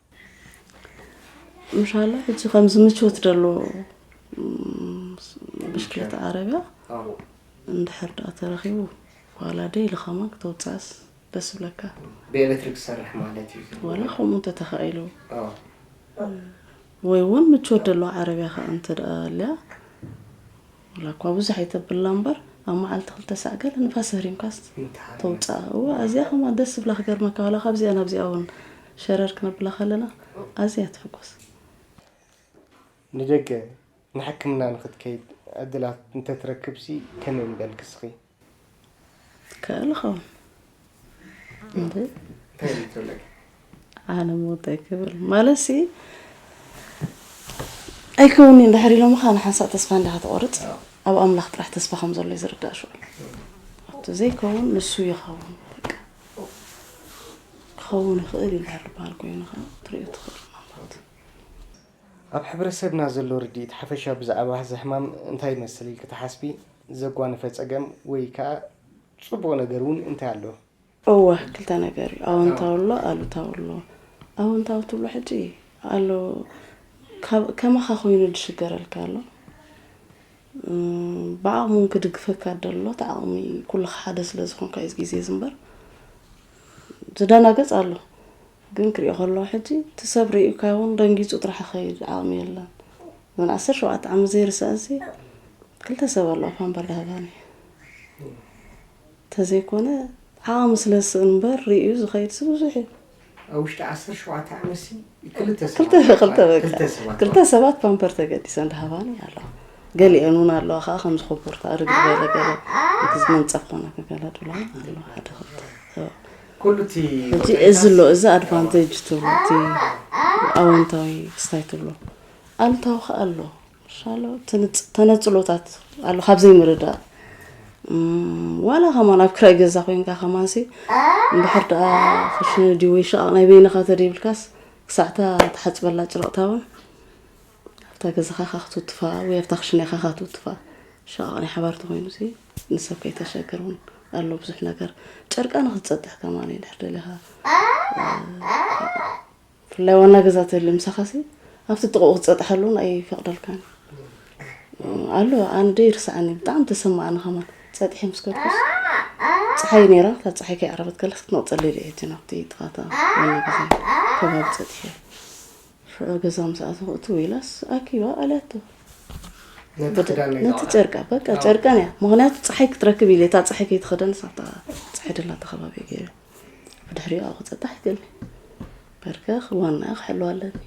ምሻላ ሕጂ ከምዚ ምቾት ደሎ ብሽክለታ ዓረብያ እንድሕር ደኣ ተረኺቡ ዋላ ደይ ኢሉ ከማን ክተውፅኣስ ደስ ብለካ ብኤሌክትሪክ ዝሰርሕ ማለት እዩ ዋላ ከምኡ እንተተኻኢሉ ወይ እውን ምቾት ደሎ ዓረብያ ከዓ እንተ ደኣ ኣልያ ዋላ እኳ ብዙሕ ኣይተብላ እምበር ኣብ መዓልቲ ክልተ ሳዕ ገለ ንፋስ ህሪምካስ ተውፅኣ እወ ኣዝያ ከምኣ ደስ ዝብላ ክገርመካ ዋላ ካብዚኣ ናብዚኣ እውን ሸረር ክነብላ ከለና ኣዝያ ትሕጎስ ንደገ ንሕክምና ንክትከይድ ዕድላት እንተትረክብሲ ከመይ ምበልኪ እስኺ? ትከኣል ኸውን ኣነ ምወዳ ይክብል ማለት ሲ ኣይከውን እንድሕር ኢሎም ካ ንሓንሳእ ተስፋ እንዲኻ ትቆርፅ ኣብ ኣምላኽ ጥራሕ ተስፋ ከም ዘሎ እዩ ዝርዳእ ሽዑ ኣብቲ ዘይከውን ንሱ ይኸውን ክኸውን ይኽእል ይልሃል ዝበሃል ኮይኑ ኸ ትሪኦ ትኽእል ኣብ ሕብረሰብና ዘሎ ርድኢት ሓፈሻዊ ብዛዕባ እዚ ሕማም እንታይ ይመስል ኢልኪ ትሓስቢ? ዘጓነፈ ጸገም ወይ ከኣ ጽቡቕ ነገር እውን እንታይ ኣሎ? እወ ክልተ ነገር እዩ ኣወንታዊ ኣሎ ኣሉታዊ ኣሎ ኣወንታዊ ትብሎ ሕጂ ኣሎ ካብ ከማኻ ኮይኑ ዝሽገረልካ ኣሎ ብዓቕሙ እውን ክድግፈካ ደሎ እቲ ዓቕሚ ኩልኻ ሓደ ስለ ዝኾንካ እዩ ግዜ እዚ እምበር ዝደናገጽ ኣሎ ግን ክሪኦ ከለኩ ሕጂ እቲ ሰብ ሪኡካ ይኩን ደንጊጹ ጥራሕ ክከይድ ዓቅሚ የለን እዘን ዓሰርተ ሸውዓተ ዓመት ዘይርስዐን ሲ ክልተ ሰብ ኣለዋ እኳ እምበር ዳሃባኒ ተዘይኮነ ዓቅሚ ስለ ዝስእን እምበር ሪኡ ዝከይድ ሲ ብዙሕ እዩ ኣብ ውሽጢ ዓሰርተ ሸውዓተ ዓመት ሲ ክልተ ክልተ ሰባት ክልተ በቃ ክልተ ሰባት ክልተ ሰባት ፓምፐር ተገዲሰን ዳሃባኒ ኣለዋ ገሊአን እውን ኣለዋ ከዓ ከምዚ ኮቦርታ ርግድ በለ ገለ እቲ መንፀፍ ኮነ ገለ ድብላ ኣለዋ ሓደ ክልተ ኩሉ እቲ ሕጂ እዚ ኣሎ እዚ ኣድቫንተጅ ትብሎ እቲ ኣወንታዊ ስታይ ትብሎ ኣሉታዊ ከዓ ኣሎ ሻሎ ተነፅሎታት ኣሎ ካብ ዘይምርዳእ ዋላ ከማን ኣብ ክራይ ገዛ ኮንካ ከማንሲ እንድሕር ደኣ ክሽነ ድዩ ወይ ሸቓቕ ናይ በይንኻ ተደይብልካስ ክሳዕታ ተሓፅበላ ጭረቕታ እውን ኣብታ ገዛኻ ካክትውትፋ ወይ ኣብታ ክሽነኻ ካትውትፋ ሸቓቕ ናይ ሓባር ተኮይኑ ንሰብ ከይተሸግር ውን ኣሎ ብዙሕ ነገር ጨርቃ ንክትፀጥሕ ከማን እንድሕር ደሊኻ ብፍላይ ዋና ገዛ ተልዩ ምሳኻሲ ኣብቲ ጥቕኡ ክትፀጥሐሉ ውን ኣይፈቕደልካን ኣሎ ኣነ ዶ ይርስዓኒ ብጣዕሚ ተሰማዕኒ ከማን ፀጥሒ ምስ ከድኩስ ፀሓይ ነይራ ካብ ፀሓይ ከይዓረበት ከለስ ክትመቕፀለይ ድዒቲ ናብቲ ጥቓታ ዋና ገዛ ከባቢ ፀጥሒ ሽዑ ገዛ ምስ ኣተኹ እትው ኢላስ ኣኪባ ኣልያቶ ነቲ ጨርቃ በቃ ጨርቃን እያ ምክንያቱ ፀሓይ ክትረክብ ኢለ እታ ፀሓይ ከይትኸደንስ ኣብታ ፀሓይ ደላ ተኸባቢ ገይረ ብድሕሪኡ ኣብኡ ክፀጣሕ ይገልኒ በርከ ክዋና ክሕልዋ ኣለኒ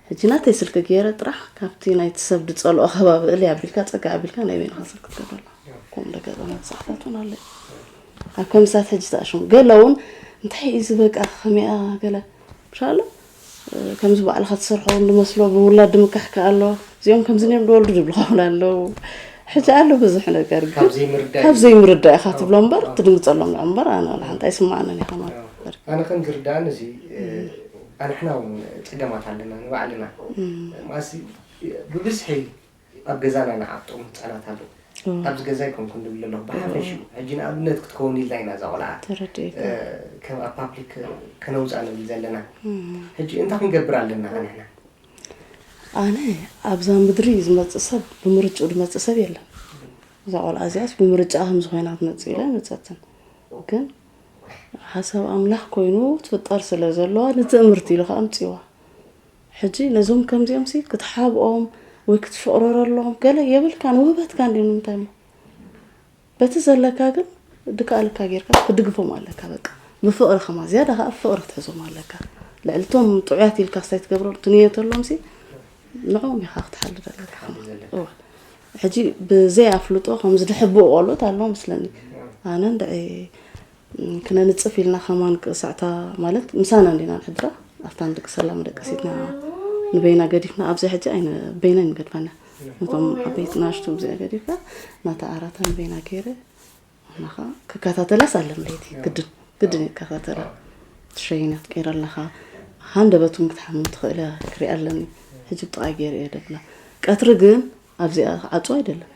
ሕጂ ናተይ ስልኪ ገይረ ጥራሕ ካብቲ ናይቲ ሰብ ዝፀልኦ ከባቢ እል ኣቢልካ ፀጋ ኣቢልካ ናይ በይንካ ስልኪ ትገብረላ ከምኡ ደገጠመት ሰዓታት እውን ኣለ ኣብ ከምሳት ሕጂ ተኣሽሙ ገለ እውን እንታይ እዩ ዝበቃ ከመይኣ ገለ ምሻ ኣሎ ከምዚ ባዕልኻ ትሰርሖ ውን ድመስሎ ብውላድ ድምካሕ ከኣ ኣሎ እዚኦም ከምዚ ነይሩ ድወልዱ ድብልኻ ውን ኣለው ሕጂ ኣሎ ብዙሕ ነገር ግን ካብ ዘይምርዳእ ኢኻ ትብሎ እምበር ትድንግጸሎም ንዑ እምበር ኣነ ወላ ሓንቲ ኣይስምዓንን ኢኻ ማለት ኣነ ከም ዝርዳእኒ እዚ ኣንሕና ውን ጽገማት ኣለና ንባዕልና ማሲ ብብዝሒ ኣብ ገዛና ንዓፍጦም ህጻናት ኣለዉ ኣብዚ ገዛ ኣይኮንኩን ዝብል ዘለኹ ብሓፈሽኡ ሕጂ ንኣብነት ክትከውን ኢልና ኢና እዛ ቆልዓ ከም ኣብ ፓብሊክ ከነውፃ ንብል ዘለና ሕጂ እንታይ ክንገብር ኣለና ንሕና ኣነ ኣብዛ ምድሪ ዝመፅእ ሰብ ብምርጭኡ ዝመፅእ ሰብ የለን እዛ ቆልዓ እዚኣስ ብምርጫ ከም ዝኾይና ትመፅእ ኢለ መፀትን ግን ሓሳብ ኣምላኽ ኮይኑ ትፍጠር ስለ ዘለዋ ንትእምርቲ ኢሉ ከዓ ኣምፅዋ ሕጂ ነዞም ከምዚኦምሲ ክትሓብኦም ወይ ክትሽቕረረሎም ገለ የብልካን ውህበትካ እንድዩ ንምንታይሞ በቲ ዘለካ ግን ድካኣልካ ጌርካ ክትድግፎም ኣለካ በቃ ብፍቕሪ ከማ ዝያዳ ከዓ ብፍቕሪ ክትሕዞም ኣለካ ልዕሊ እቶም ጥዑያት ኢልካ ስታይ ትገብሮም ትንየተሎምሲ ንዕኦም ኢኻ ክትሓልድ ኣለካ ከማ ሕጂ ብዘይ ኣፍልጦ ከምዚ ድሕብኡ ቆልኦት ኣለዎ ምስለኒ ኣነ እንድዒ ክነንጽፍ ኢልና ከማን ክሳዕታ ማለት ምሳና እንዲና ንሕድራ ኣብታ ንደቂ ሰላ መደቀሲትና ንበይና ገዲፍና ኣብዚ ሕጂ ኣይነ በይነን ይገድፋና ነቶም ዓበይቲ ናሽቱ እዚኣ ገዲፍካ ናታ ኣራታ ንበይና ገይረ ናኻ ክከታተላስ ኣለም ለይቲ ግድን ግድን ይከታተላ ትሸይናት ቀይረ ኣለኻ ሃንደበቱን ክትሓምም ትኽእለ ክሪኣ ኣለኒ ሕጂ ብጥቓይ ገይረ እየ ደብላ ቀትሪ ግን ኣብዚኣ ክዓጹ ኣይደልን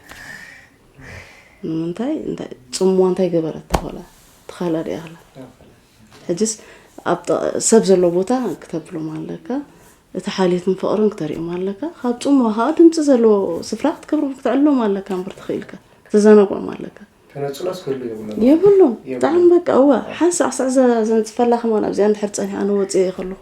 ንምንታይ ጽምዋ እንታይ ገበረት ተኾላ ተኻላ ድያ ክላ ሕጅስ ሰብ ዘሎ ቦታ ክተብሎም ኣለካ እቲ ሓልየትን ፍቕርን ክተርእዮም ኣለካ ካብ ጽምዋ ከዓ ድምፂ ዘለዎ ስፍራ ክትገብሮ ክትዕሎም ኣለካ እምበር ትኽኢልካ ክትዘናግዖም ኣለካ የብሉን ብጣዕሚ በቃ እዋ ሓንሳዕ ሳዕ ዘንፅፈላ ከማን ኣብዚኣ እንድሕር ፀኒሓ ንወፅእ ከለኹ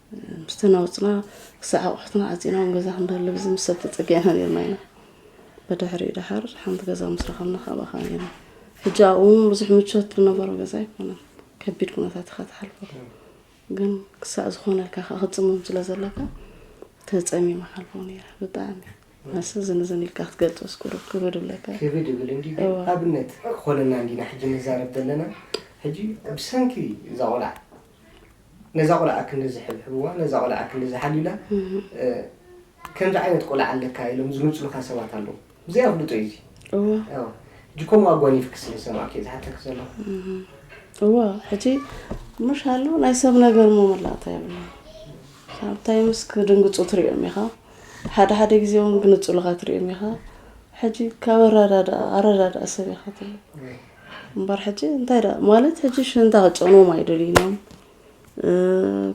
ምስቲ ነውፅና ክሳዕ ኣቑሑትና ዓፂና ኣብ ገዛ ክንደሊ ብዚ ምስ ሰብ ተፀጊዕና ነርና ኢና ብድሕሪኡ ድሓር ሓንቲ ገዛ ምስ ረኸብና ካብ ኣኻ ነርና ሕጂ ኣብኡ እውን ብዙሕ ምቾት ዝነበሮ ገዛ ኣይኮነን ከቢድ ኩነታት ኢኻ ትሓልፎ ግን ክሳዕ ዝኾነልካ ከ ክፅምም ስለ ዘለካ ተፀሚማ ሓልፎ ነይረ ብጣዕሚ መስ ዝንዝን ኢልካ ክትገልፆ ስኩሩ ክብድ ብለካ ክብድ ብል እንዲ ኣብነት ክኾነና እንዲና ሕጂ ንዛረብ ዘለና ሕጂ ብሰንኪ እዛ ቆልዓ ነዛ ቆልዓ ክንድዚ ሕብሕብዋ ነዛ ቆልዓ ክንድዚ ሓልዩላ ከምዚ ዓይነት ቆልዓ ኣለካ ኢሎም ዝምፅሉካ ሰባት ኣለዉ ብዘይ ኣፍልጦ እዩ እዚ ሕጂ ከምኡ ኣጓኒፍኪ ስለ ዝሰማዕኪ እዩ ዝሓተኪ ዘለኹ እወ ሕጂ ምሽ ኣሎ ናይ ሰብ ነገር ሞ መላእታ የብላ ሳምታይምስ ክድንግፁ ትሪኦም ኢኻ ሓደ ሓደ ግዜ እውን ግንፁልኻ ትሪኦም ኢኻ ሕጂ ካብ ኣረዳድኣ ኣረዳድኣ ሰብ ኢኻ ትብሎ እምበር ሕጂ እንታይ ደ ማለት ሕጂ ሽንታ ክጨንዎም ኣይደልዩን እዮም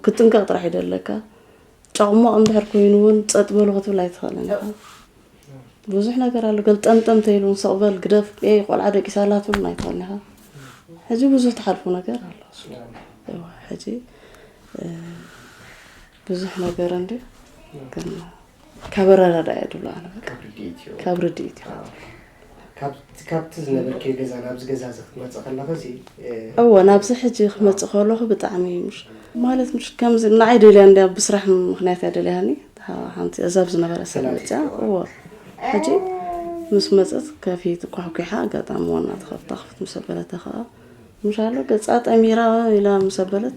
ክትጥንቀቕ ጥራሕ እዩ ደለካ ጫቕሟቕ እንድሕር ኮይኑ እውን ፀጥ በሉ ክትብል ኣይትኽእልን ኢኻ ብዙሕ ነገር ኣሎ ገልጠምጠም ተይሉ ሰቕ በል ግደፍ ቆልዓ ደቂሳ ኣላ ትብሉን ኣይትኽእልን ኢኻ ሕጂ ብዙሕ ትሓልፉ ነገር ኣሎ ሕጂ ብዙሕ ነገር እንዲ ግን ካብ ኣረዳዳእ እየ ድብሎ ኣነ በቃ ካብ ርድኢት እዩ ካብቲ ዝነበርክዮ ገዛ ናብዚ ገዛ እዚ ክትመፅእ ከለኺ እዚ እወ ናብዚ ሕጂ ክመፅእ ከለኹ ብጣዕሚ እዩ ምሽ ማለት ምሽ ከምዚ ንዓይ ደልያ እንድያ ብስራሕ ምክንያት እያ ደልያኒ ሓንቲ እዛ ኣብ ዝነበረ ሰብ መፅያ እወ ሕጂ ምስ መፅት ከፊት ኳሕኲሓ ኣጋጣሚ ዋና ተኸፍታ ክፍት ምስ ኣበለተ ከዓ ምሻሎ ገፃ ጠሚራ ኢላ ምስ ኣበለት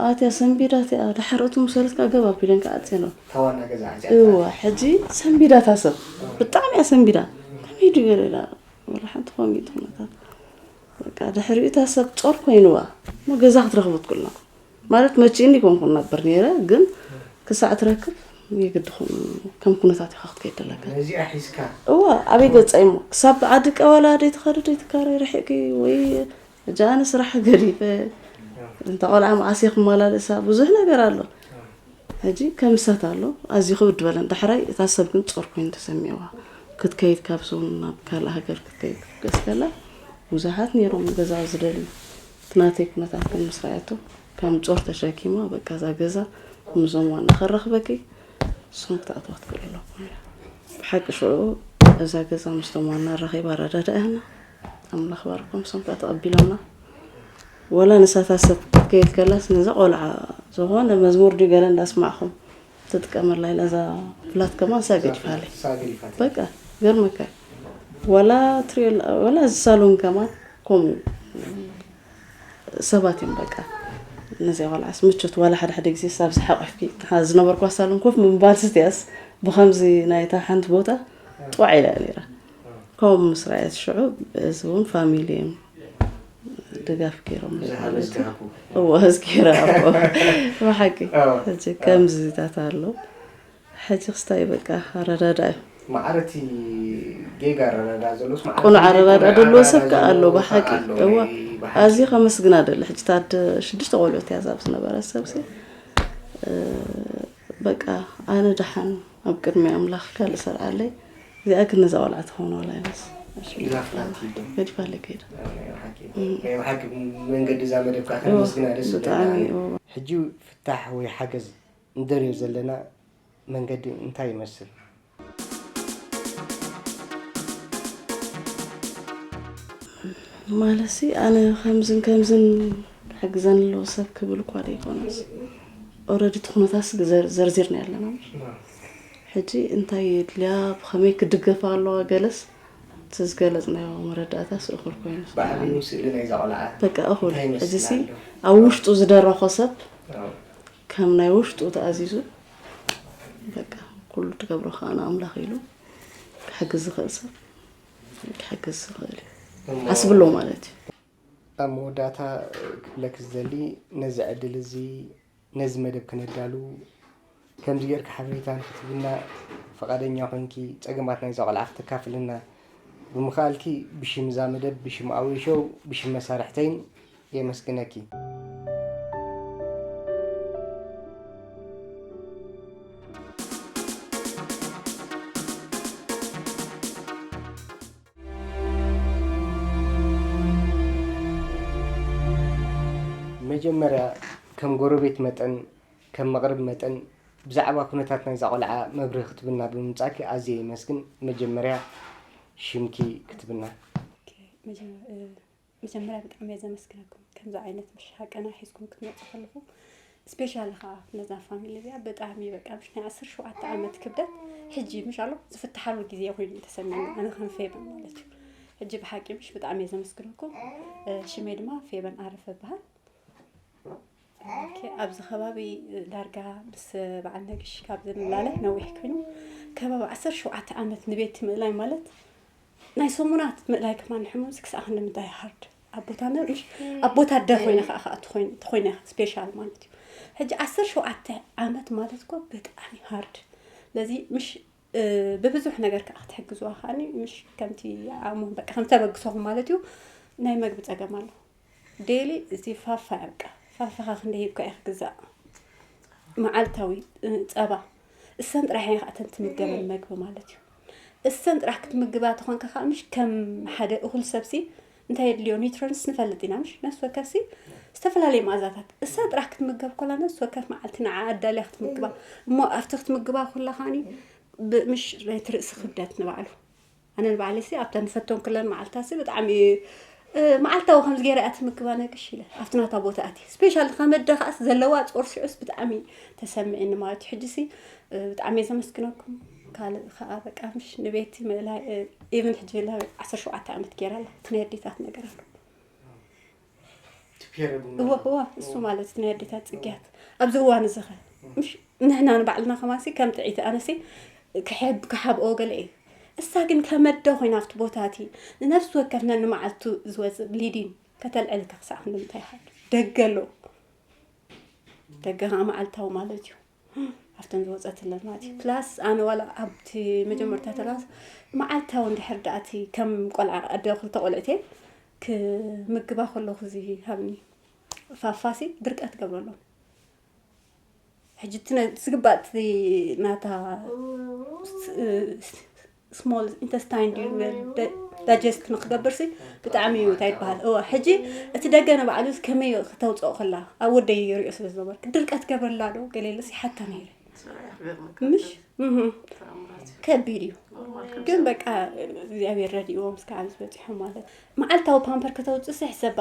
ኣትያ ሰንቢዳ እቲኣ ድሓር እቱ ምሰለት ከዓ ገብ ኣቢለን ከዓ ኣፅየን እዋ ሕጂ ሰንቢዳ እታ ሰብ ብጣዕሚ እያ ሰንቢዳ ከመይ ድዩ ገለ ኢላ ወላ ሓንቲ ኮሚት ኩነታት በቃ ድሕሪኡ እታ ሰብ ፆር ኮይንዋ እሞ ገዛ ክትረክቡ ትክእሎ ማለት መቺእኒ ኮንኩ ነበር ነይረ ግን ክሳዕ ትረክብ የግዲ ከም ኩነታት ኢካ ክትከይድ ደለካ ነዚኣ ሒዝካ እዋ ኣበይ ገፃ እሞ ክሳብ ዓዲ ቀበላ ደይትኸዲ ደይትካረይ ርሒቅኪ ወይ ሕጂ ኣነ ስራሕ ገዲፈ እንተ ቆልዓ መዓስ እየ ክመላለሳ ብዙሕ ነገር ኣሎ ሕጂ ከምሰት ኣሎ ኣዝዩ ክብድ በለን ዳሕራይ እታ ሰብ ግን ጾር ኮይኑ ተሰሚዕዋ ክትከይድ ካብ ሰውን ናብ ካልእ ሃገር ክትከይድ ክትገስ ከላ ብዙሓት ነይሮም ገዛ ዝደልዩ እቲ ናተይ ኩነታት ግን ምስ ረኣየቶ ከም ጾር ተሸኪማ በቃ እዛ ገዛ ምስዞም ዋና ከረኽበኪ እሶም ክትኣትዋ ክትክእል ኣለኩም ኢላ ብሓቂ ሽዑ እዛ ገዛ ምስቶም ዋና ረኺባ ረዳዳእያና ኣምላኽ ባርኮም ሶም ከኣ ተቐቢሎምና ወላ ንሳታ ሰብ ክትከይድ ከላስ ነዚ ቆልዓ ዝኾነ መዝሙር ድዩ ገለ እንዳስማዕኹም ትጥቀመላ ኢላ እዛ ፍላት ከማን እሳ ገዲፋለ በቃ ገርመካ ወላ ትሪኦ ወላ እዚ ሳሎን ከማን ከምኡ ሰባት እዮም በቃ ነዚኣ ቆልዓስ ምቾት ዋላ ሓደ ሓደ ግዜ ሳብ ዝሓቆፍኪ ዝነበርኳ ሳሎን ኮፍ ምባልስ እቲኣስ ብከምዚ ናይታ ሓንቲ ቦታ ጥዋዕ ኢላ ነይራ ከምኡ ምስራየት ሽዑ እዚ እውን ፋሚሊ እዮም ድጋፍ ገይሮም እዎ ህዝጊ ረኣቦ ብሓቂ ሕጂ ከምዚታት ኣሎ ሕጂ ክስታይ በቃ ኣረዳዳ እዩ ማዕረቲ ጌጋ ኣረዳዳ ዘሎስ ቁኑዕ ኣረዳዳ ደለዎ ሰብ ከዓ ኣሎ ብሓቂ እዎ ኣዝዩ ከመስግና ደለ ሕጂ ታድ ሽዱሽተ ቆልዑት እያ ዛብ ዝነበረ ሰብሲ በቃ ኣነ ደሓን ኣብ ቅድሚ ኣምላኽ ካልእ ሰርዓለይ እዚኣ ግን ነዛ ቆልዓ ትኸውን ዋላ ይበስ ገድፋለይ ከይዳ ናይ ብሓቂ መንገዲ እዛ መደብካ ከመስግና ደስ ብጣዕሚ ሕጂ ፍታሕ ወይ ሓገዝ ንደልዮ ዘለና መንገዲ እንታይ ይመስል ማለትሲ ኣነ ከምዝን ከምዝን ክሕግዘኒ ኣለዎ ሰብ ክብል እኳ ዘይኮነስ ኦረዲ እቲ ኩነታት ዘርዚርና ኣለና ሕጂ እንታይ የድልያ ብኸመይ ክድገፋ ኣለዋ ገለስ እቲ ዝገለፅናዮ መረዳእታስ እኹል ኮይኑ በቃ እኹል ሕጂ ሲ ኣብ ውሽጡ ዝደረኾ ሰብ ከም ናይ ውሽጡ ተኣዚዙ በቃ ኩሉ ትገብሮ ከዓ ንኣምላኽ ኢሉ ክሕግዝ ዝኽእል ሰብ ክሕግዝ ዝኽእል እዩ ዓስብሎ ማለት እዩ ኣብ መወዳእታ ክብለኪ ዝደሊ ነዚ ዕድል እዚ ነዚ መደብ ክነዳሉ ከምዚ ጌርኪ ሓበሬታ ንክትህብና ፍቓደኛ ኮይንኪ ጸገማት ናይዛ ቆልዓ ክተካፍልና ብምኽኣልኪ ብሽም እዛ መደብ ብሽም ኣዌ ሾው ብሽም መሳርሕተይን የመስግነኪ። መጀመርያ ከም ጎረቤት መጠን ከም መቕርብ መጠን ብዛዕባ ኩነታት ናይዛ ቆልዓ መብርሂ ክትብና ብምምጻእኪ ኣዝየ የመስግን። መጀመርያ ሽምኪ ክትብና። መጀመርያ መጀመርያ ብጣዕሚ እየ ዘመስግነኩም ከምዚ ዓይነት ምሽ ሃቀና ሒዝኩም ክትመፁ ከለኹ ስፔሻሊ ከዓ ነዛ ፋሚሊ እዚኣ ብጣዕሚ በቃ ምሽ ናይ ዓሰርተ ሸውዓተ ዓመት ክብደት ሕጂ ምሽ ኣሎ ዝፍትሓሉ ግዜ ኮይኑ እዩ ተሰሚዑ ኣነ ከም ፌበን ማለት እዩ ሕጂ ብሓቂ ምሽ ብጣዕሚ እየ ዘመስግነኩም ሽመይ ድማ ፌበን ዓረፈ ይበሃል ኣብዚ ከባቢ ዳርጋ ምስ በዓል ነግሽ ካብ ዝንላለ ነዊሕ ኮይኑ ከባቢ ዓሰርተ ሸውዓተ ዓመት ንቤት ምእላይ ማለት ናይ ሰሙናት ምእላይ ከማ ንሕሙምስ ክሳዕ ክንዲ ምንታይ ሃርድ ኣብ ቦታ ምሽ ኣብ ቦታ ኣደ ኮይነ ከዓ ከዓ ተኮይነ ስፔሻል ማለት እዩ ሕጂ ዓሰርተ ሸውዓተ ዓመት ማለት እኮ ብጣዕሚ ሃርድ ስለዚ ምሽ ብብዙሕ ነገር ከኣ ክትሕግዝዋ ከኣኒ ምሽ ከምቲ ኣሞ በቃ ከም ተበግሶኹም ማለት እዩ ናይ መግቢ ጸገም ኣሎ ዴሊ እዚ ፋፋ ያብቃ ፋፋኻ ክንደ ሂብካ እየ ክግዛእ መዓልታዊ ጸባ እሰን ጥራሕ እየ ከኣተን ትምገበን መግቢ ማለት እዩ እሰን ጥራሕ ክትምግባ ተኾንካ ከዓ ምሽ ከም ሓደ እኹል ሰብሲ እንታይ የድልዮ ኒውትሮንስ ንፈልጥ ኢና ምሽ ነፍሲ ወከፍሲ ዝተፈላለየ መኣዛታት እሳ ጥራሕ ክትምገብ ኮላ ነፍሲ ወከፍ መዓልቲ ንዓ ኣዳልያ ክትምግባ እሞ ኣብቲ ክትምግባ ኩላ ከዓኒ ምሽ ናይቲ ርእሲ ክብደት ንባዕሉ ኣነ ንባዕለይ ሲ ኣብታ ንፈቶም ክለን መዓልትታት ሲ ብጣዕሚ መዓልታዊ ከምዚ ገይረ እያ ትምግባ ነግሽ ኢለ ኣብቲ ናታ ቦታ ኣት ስፔሻል ከመደ ከዓስ ዘለዋ ፆርሲዑስ ብጣዕሚ ተሰሚዒኒ ማለት እዩ ሕጂ ሲ ብጣዕሚ እየ ዘመስግነኩም ካልእ ከዓ በቃ ምሽ ንቤቲ ምእላይ ኢብን ሕጂ ላ ዓሰርተ ሸውዓተ ዓመት ገይራ ኣላ እቲ ናይ ኣዴታት ነገር ኣሎ እወ እወ እሱ ማለት እቲ ናይ ኣዴታት ፅግያት ኣብዚ እዋን እዚ ኸ ምሽ ንሕና ንባዕልና ከማሲ ከም ጥዒቲ ኣነሲ ክሕብ ክሓብኦ ገለ እዩ እሳ ግን ከመደ ኮይና ኣብቲ ቦታ እቲ ንነፍሲ ወከፍ ነንመዓልቱ ዝወፅእ ብሊዲን ከተልዕል ከክሳዕ ክንዲ ምንታይ ይሃል ደገ ኣሎ ደገ ከዓ መዓልታዊ ማለት እዩ ኣብተን ዝወፀትለን ማለት እዩ ፕላስ ኣነ ዋላ ኣብቲ መጀመርታ ተላስ መዓልታዊ እንድሕር ዳኣቲ ከም ቆልዓ ኣደ ክልተ ቆልዕት እየ ክምግባ ከለኩ እዚ ሃብኒ ፋፋሲ ድርቀት ገብረሎ ሕጂ ዝግባእ ናታ ስሞል ኢንተስታይን ድዩ ዳጀስት ንክገብርሲ ብጣዕሚ እዩ እንታይ ይበሃል እወ ሕጂ እቲ ደገ ንባዕሉ ከመይ ክተውፅኦ ከላ ኣብ ወደይ ይሪኦ ስለ ዝነበርኩ ድርቀት ገብረላ ዶ ገሌለስ ይሓታ ነይረ ምሽ ከቢድ እዩ ግን በቃ እግዚኣብሔር ረድእዎም እስከ ኣብዚ በፂሖም ማለት መዓልታዊ ፓምፐር ከተውፅእሲ ሕሰባ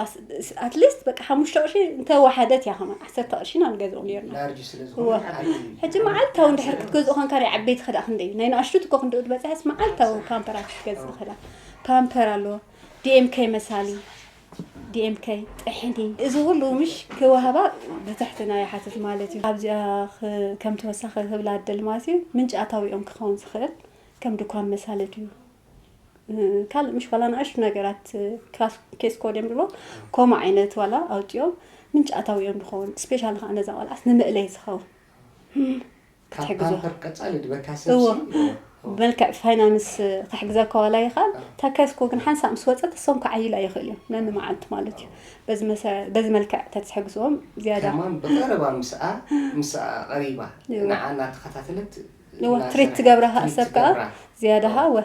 ኣትሊስት በቃ ሓሙሽተ ቅርሺ እንተወሓደት እያ ከማን ዓሰርተ ቅርሺ ኢና ንገዝኦ ነርና ላርጅ ስለ እወ። ዝኾነ ዓብዪ እዩ። ሕጂ መዓልታዊ እንድሕር ክትገዝኦ ኮንካ ናይ ዓበይቲ ክዳ ክንደይ እዩ? ናይ ንኣሽቱ እኮ ክንደኡ ዝበፅሐስ መዓልታዊ ፓምፐራት ክትገዝእ ክዳ ፓምፐር ኣሎ ዲኤምከ መሳሊ ዲኤምከ ጥሕኒ እዚ ኩሉ ምሽ ክወሃባ ብትሕትና ይሓትት ማለት እዩ ኣብዚኣ ክ- ከም ተወሳኺ ክብላ ደሊ ማለት እዩ ምንጪ ኣታዊኦም ክኸውን ዝኽእል ከም ድኳን መሳሊ ድዩ ካልእ ምሽ ዋላ ንኣሽቱ ነገራት ክላስ ኬስ ኮድ እዮም ዝብሎ ከምኡ ዓይነት ዋላ ኣውፅኦም ምንጭ ኣታዊኦም ዝኸውን ስፔሻል ከዓ ነዛ ቆልዓስ ንመእለይ ዝኸውን ብመልክዕ ፋይናንስ ክሕግዘካ ዋላ ይኽእል እታ ኬስ ኮድ ግን ሓንሳእ ምስ ወፀት እሶም ክዓይላ ይኽእል እዮም ነንመዓልቱ ማለት እዩ በዚ መልክዕ ተትሕግዝዎም ዝያዳ ብቀረባ ምስኣ ምስኣ ቀሪባ ንዓ እናተኸታተለት እዋ ትሪት ትገብራ ከኣ ሰብ ከኣ ዝያዳ ከኣ እወ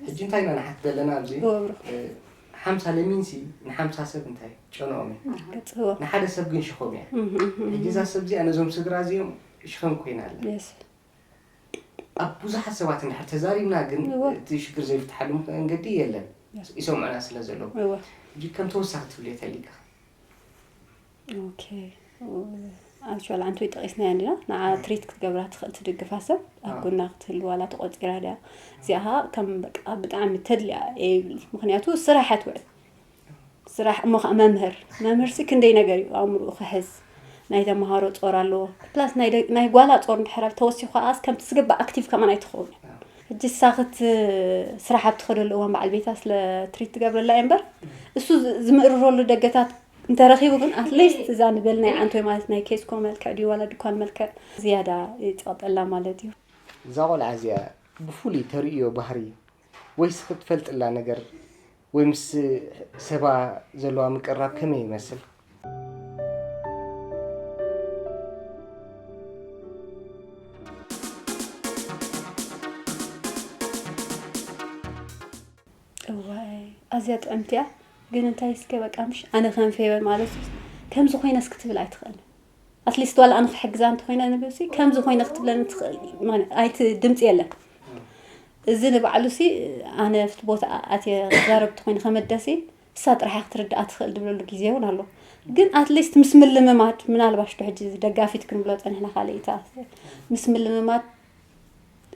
ሕጂ እንታይ ኢና ንሓት ዘለና ኣብዚ እወ ብሩክ ሓምሳ ለሚንሲ ንሓምሳ ሰብ እንታይ ጨንኦም እዩ ገጽ እወ ንሓደ ሰብ ግን ሽኾም እያ ሕጂ እዛ ሰብ እዚኣ ነዞም ስድራ እዚኦም ሽኸም ኮይና ኣላ የስ ኣብ ብዙሓት ሰባት እንድሕር ተዛሪብና ግን እወ። እቲ ሽግር ዘይፍትሓሉ ምክ- መንገዲ የለን Yes. ይሰምዑና ስለ ዘለዉ እወ ሕጂ ከም ተወሳኺ ትብልዮ ተሊካ ኣክል ኣንቲ ወይ ጠቂስናያ ኣለና ንዓ ትሪት ክትገብራ ትኽእል ትድግፋ ሰብ ኣብ ጎና ክትህል ዋላ ተቆፂራ ድያ እዚኣ ከዓ ከም በቃ ብጣዕሚ ተድልያ እየ ይብል ምክንያቱ ስራሕ እያ ትውዕል ስራሕ እሞ ከዓ መምህር መምህር ሲ ክንደይ ነገር እዩ ኣእምርኡ ክሕዝ ናይ ተምሃሮ ፆር ኣለዎ ፕላስ ናይ ጓላ ፆር እንድሕር ተወሲኹ ከዓ ከምቲ ዝግባእ ኣክቲቭ ከማን ኣይትኸውን ሕጂ ሳኽት ስራሕ ኣብ ትኸደሉ እዋን በዓል ቤታ ስለ ትሪት ትገብረላ እየ እምበር እሱ ዝምእርረሉ ደገታት እንተረኺቡ ግን ኣትሊስት እዛ ንበል ናይ ዓንቶይ ማለት ናይ ኬስኮ መልክዕ ድዩ ዋላ ድኳን መልክዕ ዝያዳ ይጸቕጠላ ማለት እዩ። እዛ ቆልዓ እዚኣ ብፍሉይ ተርእዮ ባህሪ ወይ ስክ እትፈልጥላ ነገር ወይ ምስ ሰባ ዘለዋ ምቅርራብ ከመይ ይመስል? እዋይ ኣዝያ ጥዕምቲ እያ ግን እንታይ እስከ በቃ ምሽ ኣነ ከም ፌበን ማለት ከምዚ ኮይነስ ክትብል ኣይትኽእልን ኣትሊስት ዋላ ኣነ ክሕግዛ እንተኮይነ ንብሲ ከምዚ ኮይነ ክትብለን ትኽእል ኣይቲ ድምፂ የለን እዚ ንባዕሉ ሲ ኣነ ኣብቲ ቦታ ኣትየ ክዛረብቲ ኮይኑ ከመደሲ እሳ ጥራሕ ክትርድኣ ትኽእል ዝብለሉ ግዜ እውን ኣሎ ግን ኣትሊስት ምስ ምልምማድ ምናልባሽ ዶ ሕጂ ደጋፊት ክንብሎ ፀኒሕና ካልእታ ምስ ምልምማድ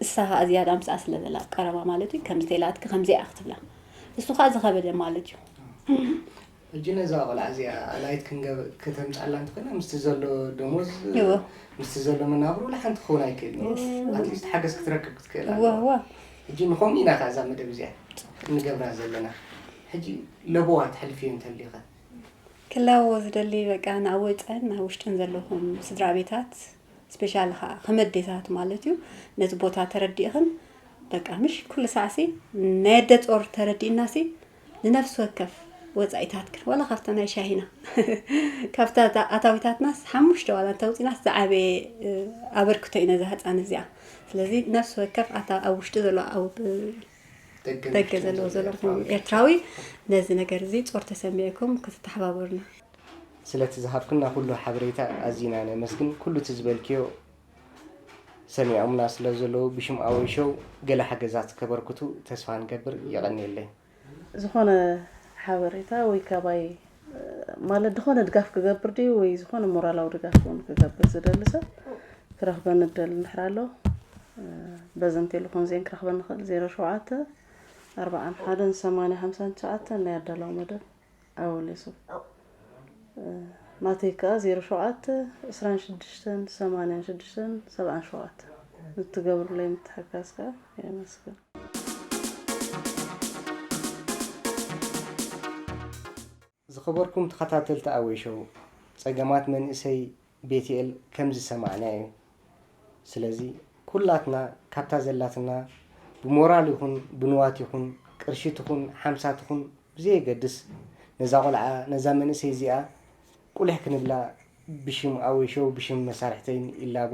እሳ ኸኣ ዝያዳ ምስኣ ስለ ዘላ ኣብ ቀረባ ማለት እዩ ከም ዝተላትኪ ከምዚኣ ክትብላ እሱ ኸኣ ዝኸበደ ማለት እዩ ሕጂ ነዛ ቆልዓ እዚኣ ኣላይት ክንገብ ከተምጻላ እንተኾይና ምስቲ ዘሎ ደሞዝ እዎ ምስቲ ዘሎ መናብሮ ወላ ሓንቲ ክኸውን ኣይክእልን Yes. እዩ ኣትሊስት ሓገዝ ክትረክብ ክትክእል እዎ ኣለዋ እዎ ሕጂ ንኸምኡ ኢና ከ እዛ መደብ እዚኣ እንገብራ ዘለና ሕጂ ለበዋ ተሕልፍዮ እንተልዩኸ ክላዎ ዝደሊ በቃ ናብ ወጸን ናብ ውሽጥን ዘለኹም ስድራ ቤታት ስፔሻሊ ከኣ ከም ኣዴታት ማለት እዩ ነቲ ቦታ ተረዲእኽን በቃ ምሽ ኩሉ ሳዕሲ ናይ ኣደ ጾር ተረዲእናሲ ንነፍሲ ወከፍ ወፃኢታትክን ዋላ ካብታ ናይ ሻሂና ካብታ ኣታዊታትናስ ሓሙሽተ ዋላ እንተውፂናስ ዝዓበየ ኣበርክቶ እዩ ነዛ ህፃን እዚኣ ስለዚ ነፍሲ ወከፍ ኣብ ውሽጢ ዘሎ ደገ ዘለዎ ዘለኹም ኤርትራዊ ነዚ ነገር እዚ ጾር ተሰሚዕኩም ክትተሓባበሩና ስለቲ ዝሃብክና ኩሉ ሓበሬታ ኣዚና ነመስግን ኩሉ እቲ ዝበልክዮ ሰሚዖምና ስለ ዘለዉ ብሽም ኣወል ሾው ገለ ሓገዛት ከበርክቱ ተስፋ ንገብር የቐንየለይ። ዝኾነ ሓበሬታ ወይ ካባይ ማለት ድኾነ ድጋፍ ክገብር ድዩ ወይ ዝኾነ ሞራላዊ ድጋፍ እውን ክገብር ዝደሊ ሰብ ክረኽበኒ እደሊ እንድሕር ኣሎ በዚ ንቴሌፎን ዜን ክረኽበ ንኽእል ዜሮ ሸውዓተ ኣርባዓን ሓደን ሰማንያ ሓምሳን ትሽዓተን ናይ ኣዳላዊ መደብ ኣወል የሱፍ ናተይ ከዓ ዜሮ ሸውዓተ ዕስራን ሽዱሽተን ሰማንያን ሽዱሽተን ሰብዓን ሸውዓተ ንትገብሩለይ ምትሕጋዝ ከዓ የመስግን ዝኸበርኩም ተኸታተልቲ ኣወይ ሾው ጸገማት መንእሰይ ቤትኤል ከም ዝሰማዕናዮ እዩ። ስለዚ ኩላትና ካብታ ዘላትና ብሞራል ይኹን ብንዋት ይኹን ቅርሺ ትኹን ሓምሳ ትኹን ብዘየገድስ ነዛ ቆልዓ ነዛ መንእሰይ እዚኣ ቁሊሕ ክንብላ ብሽም ኣወይ ሾው ብሽም መሳርሕተይን ይላቦ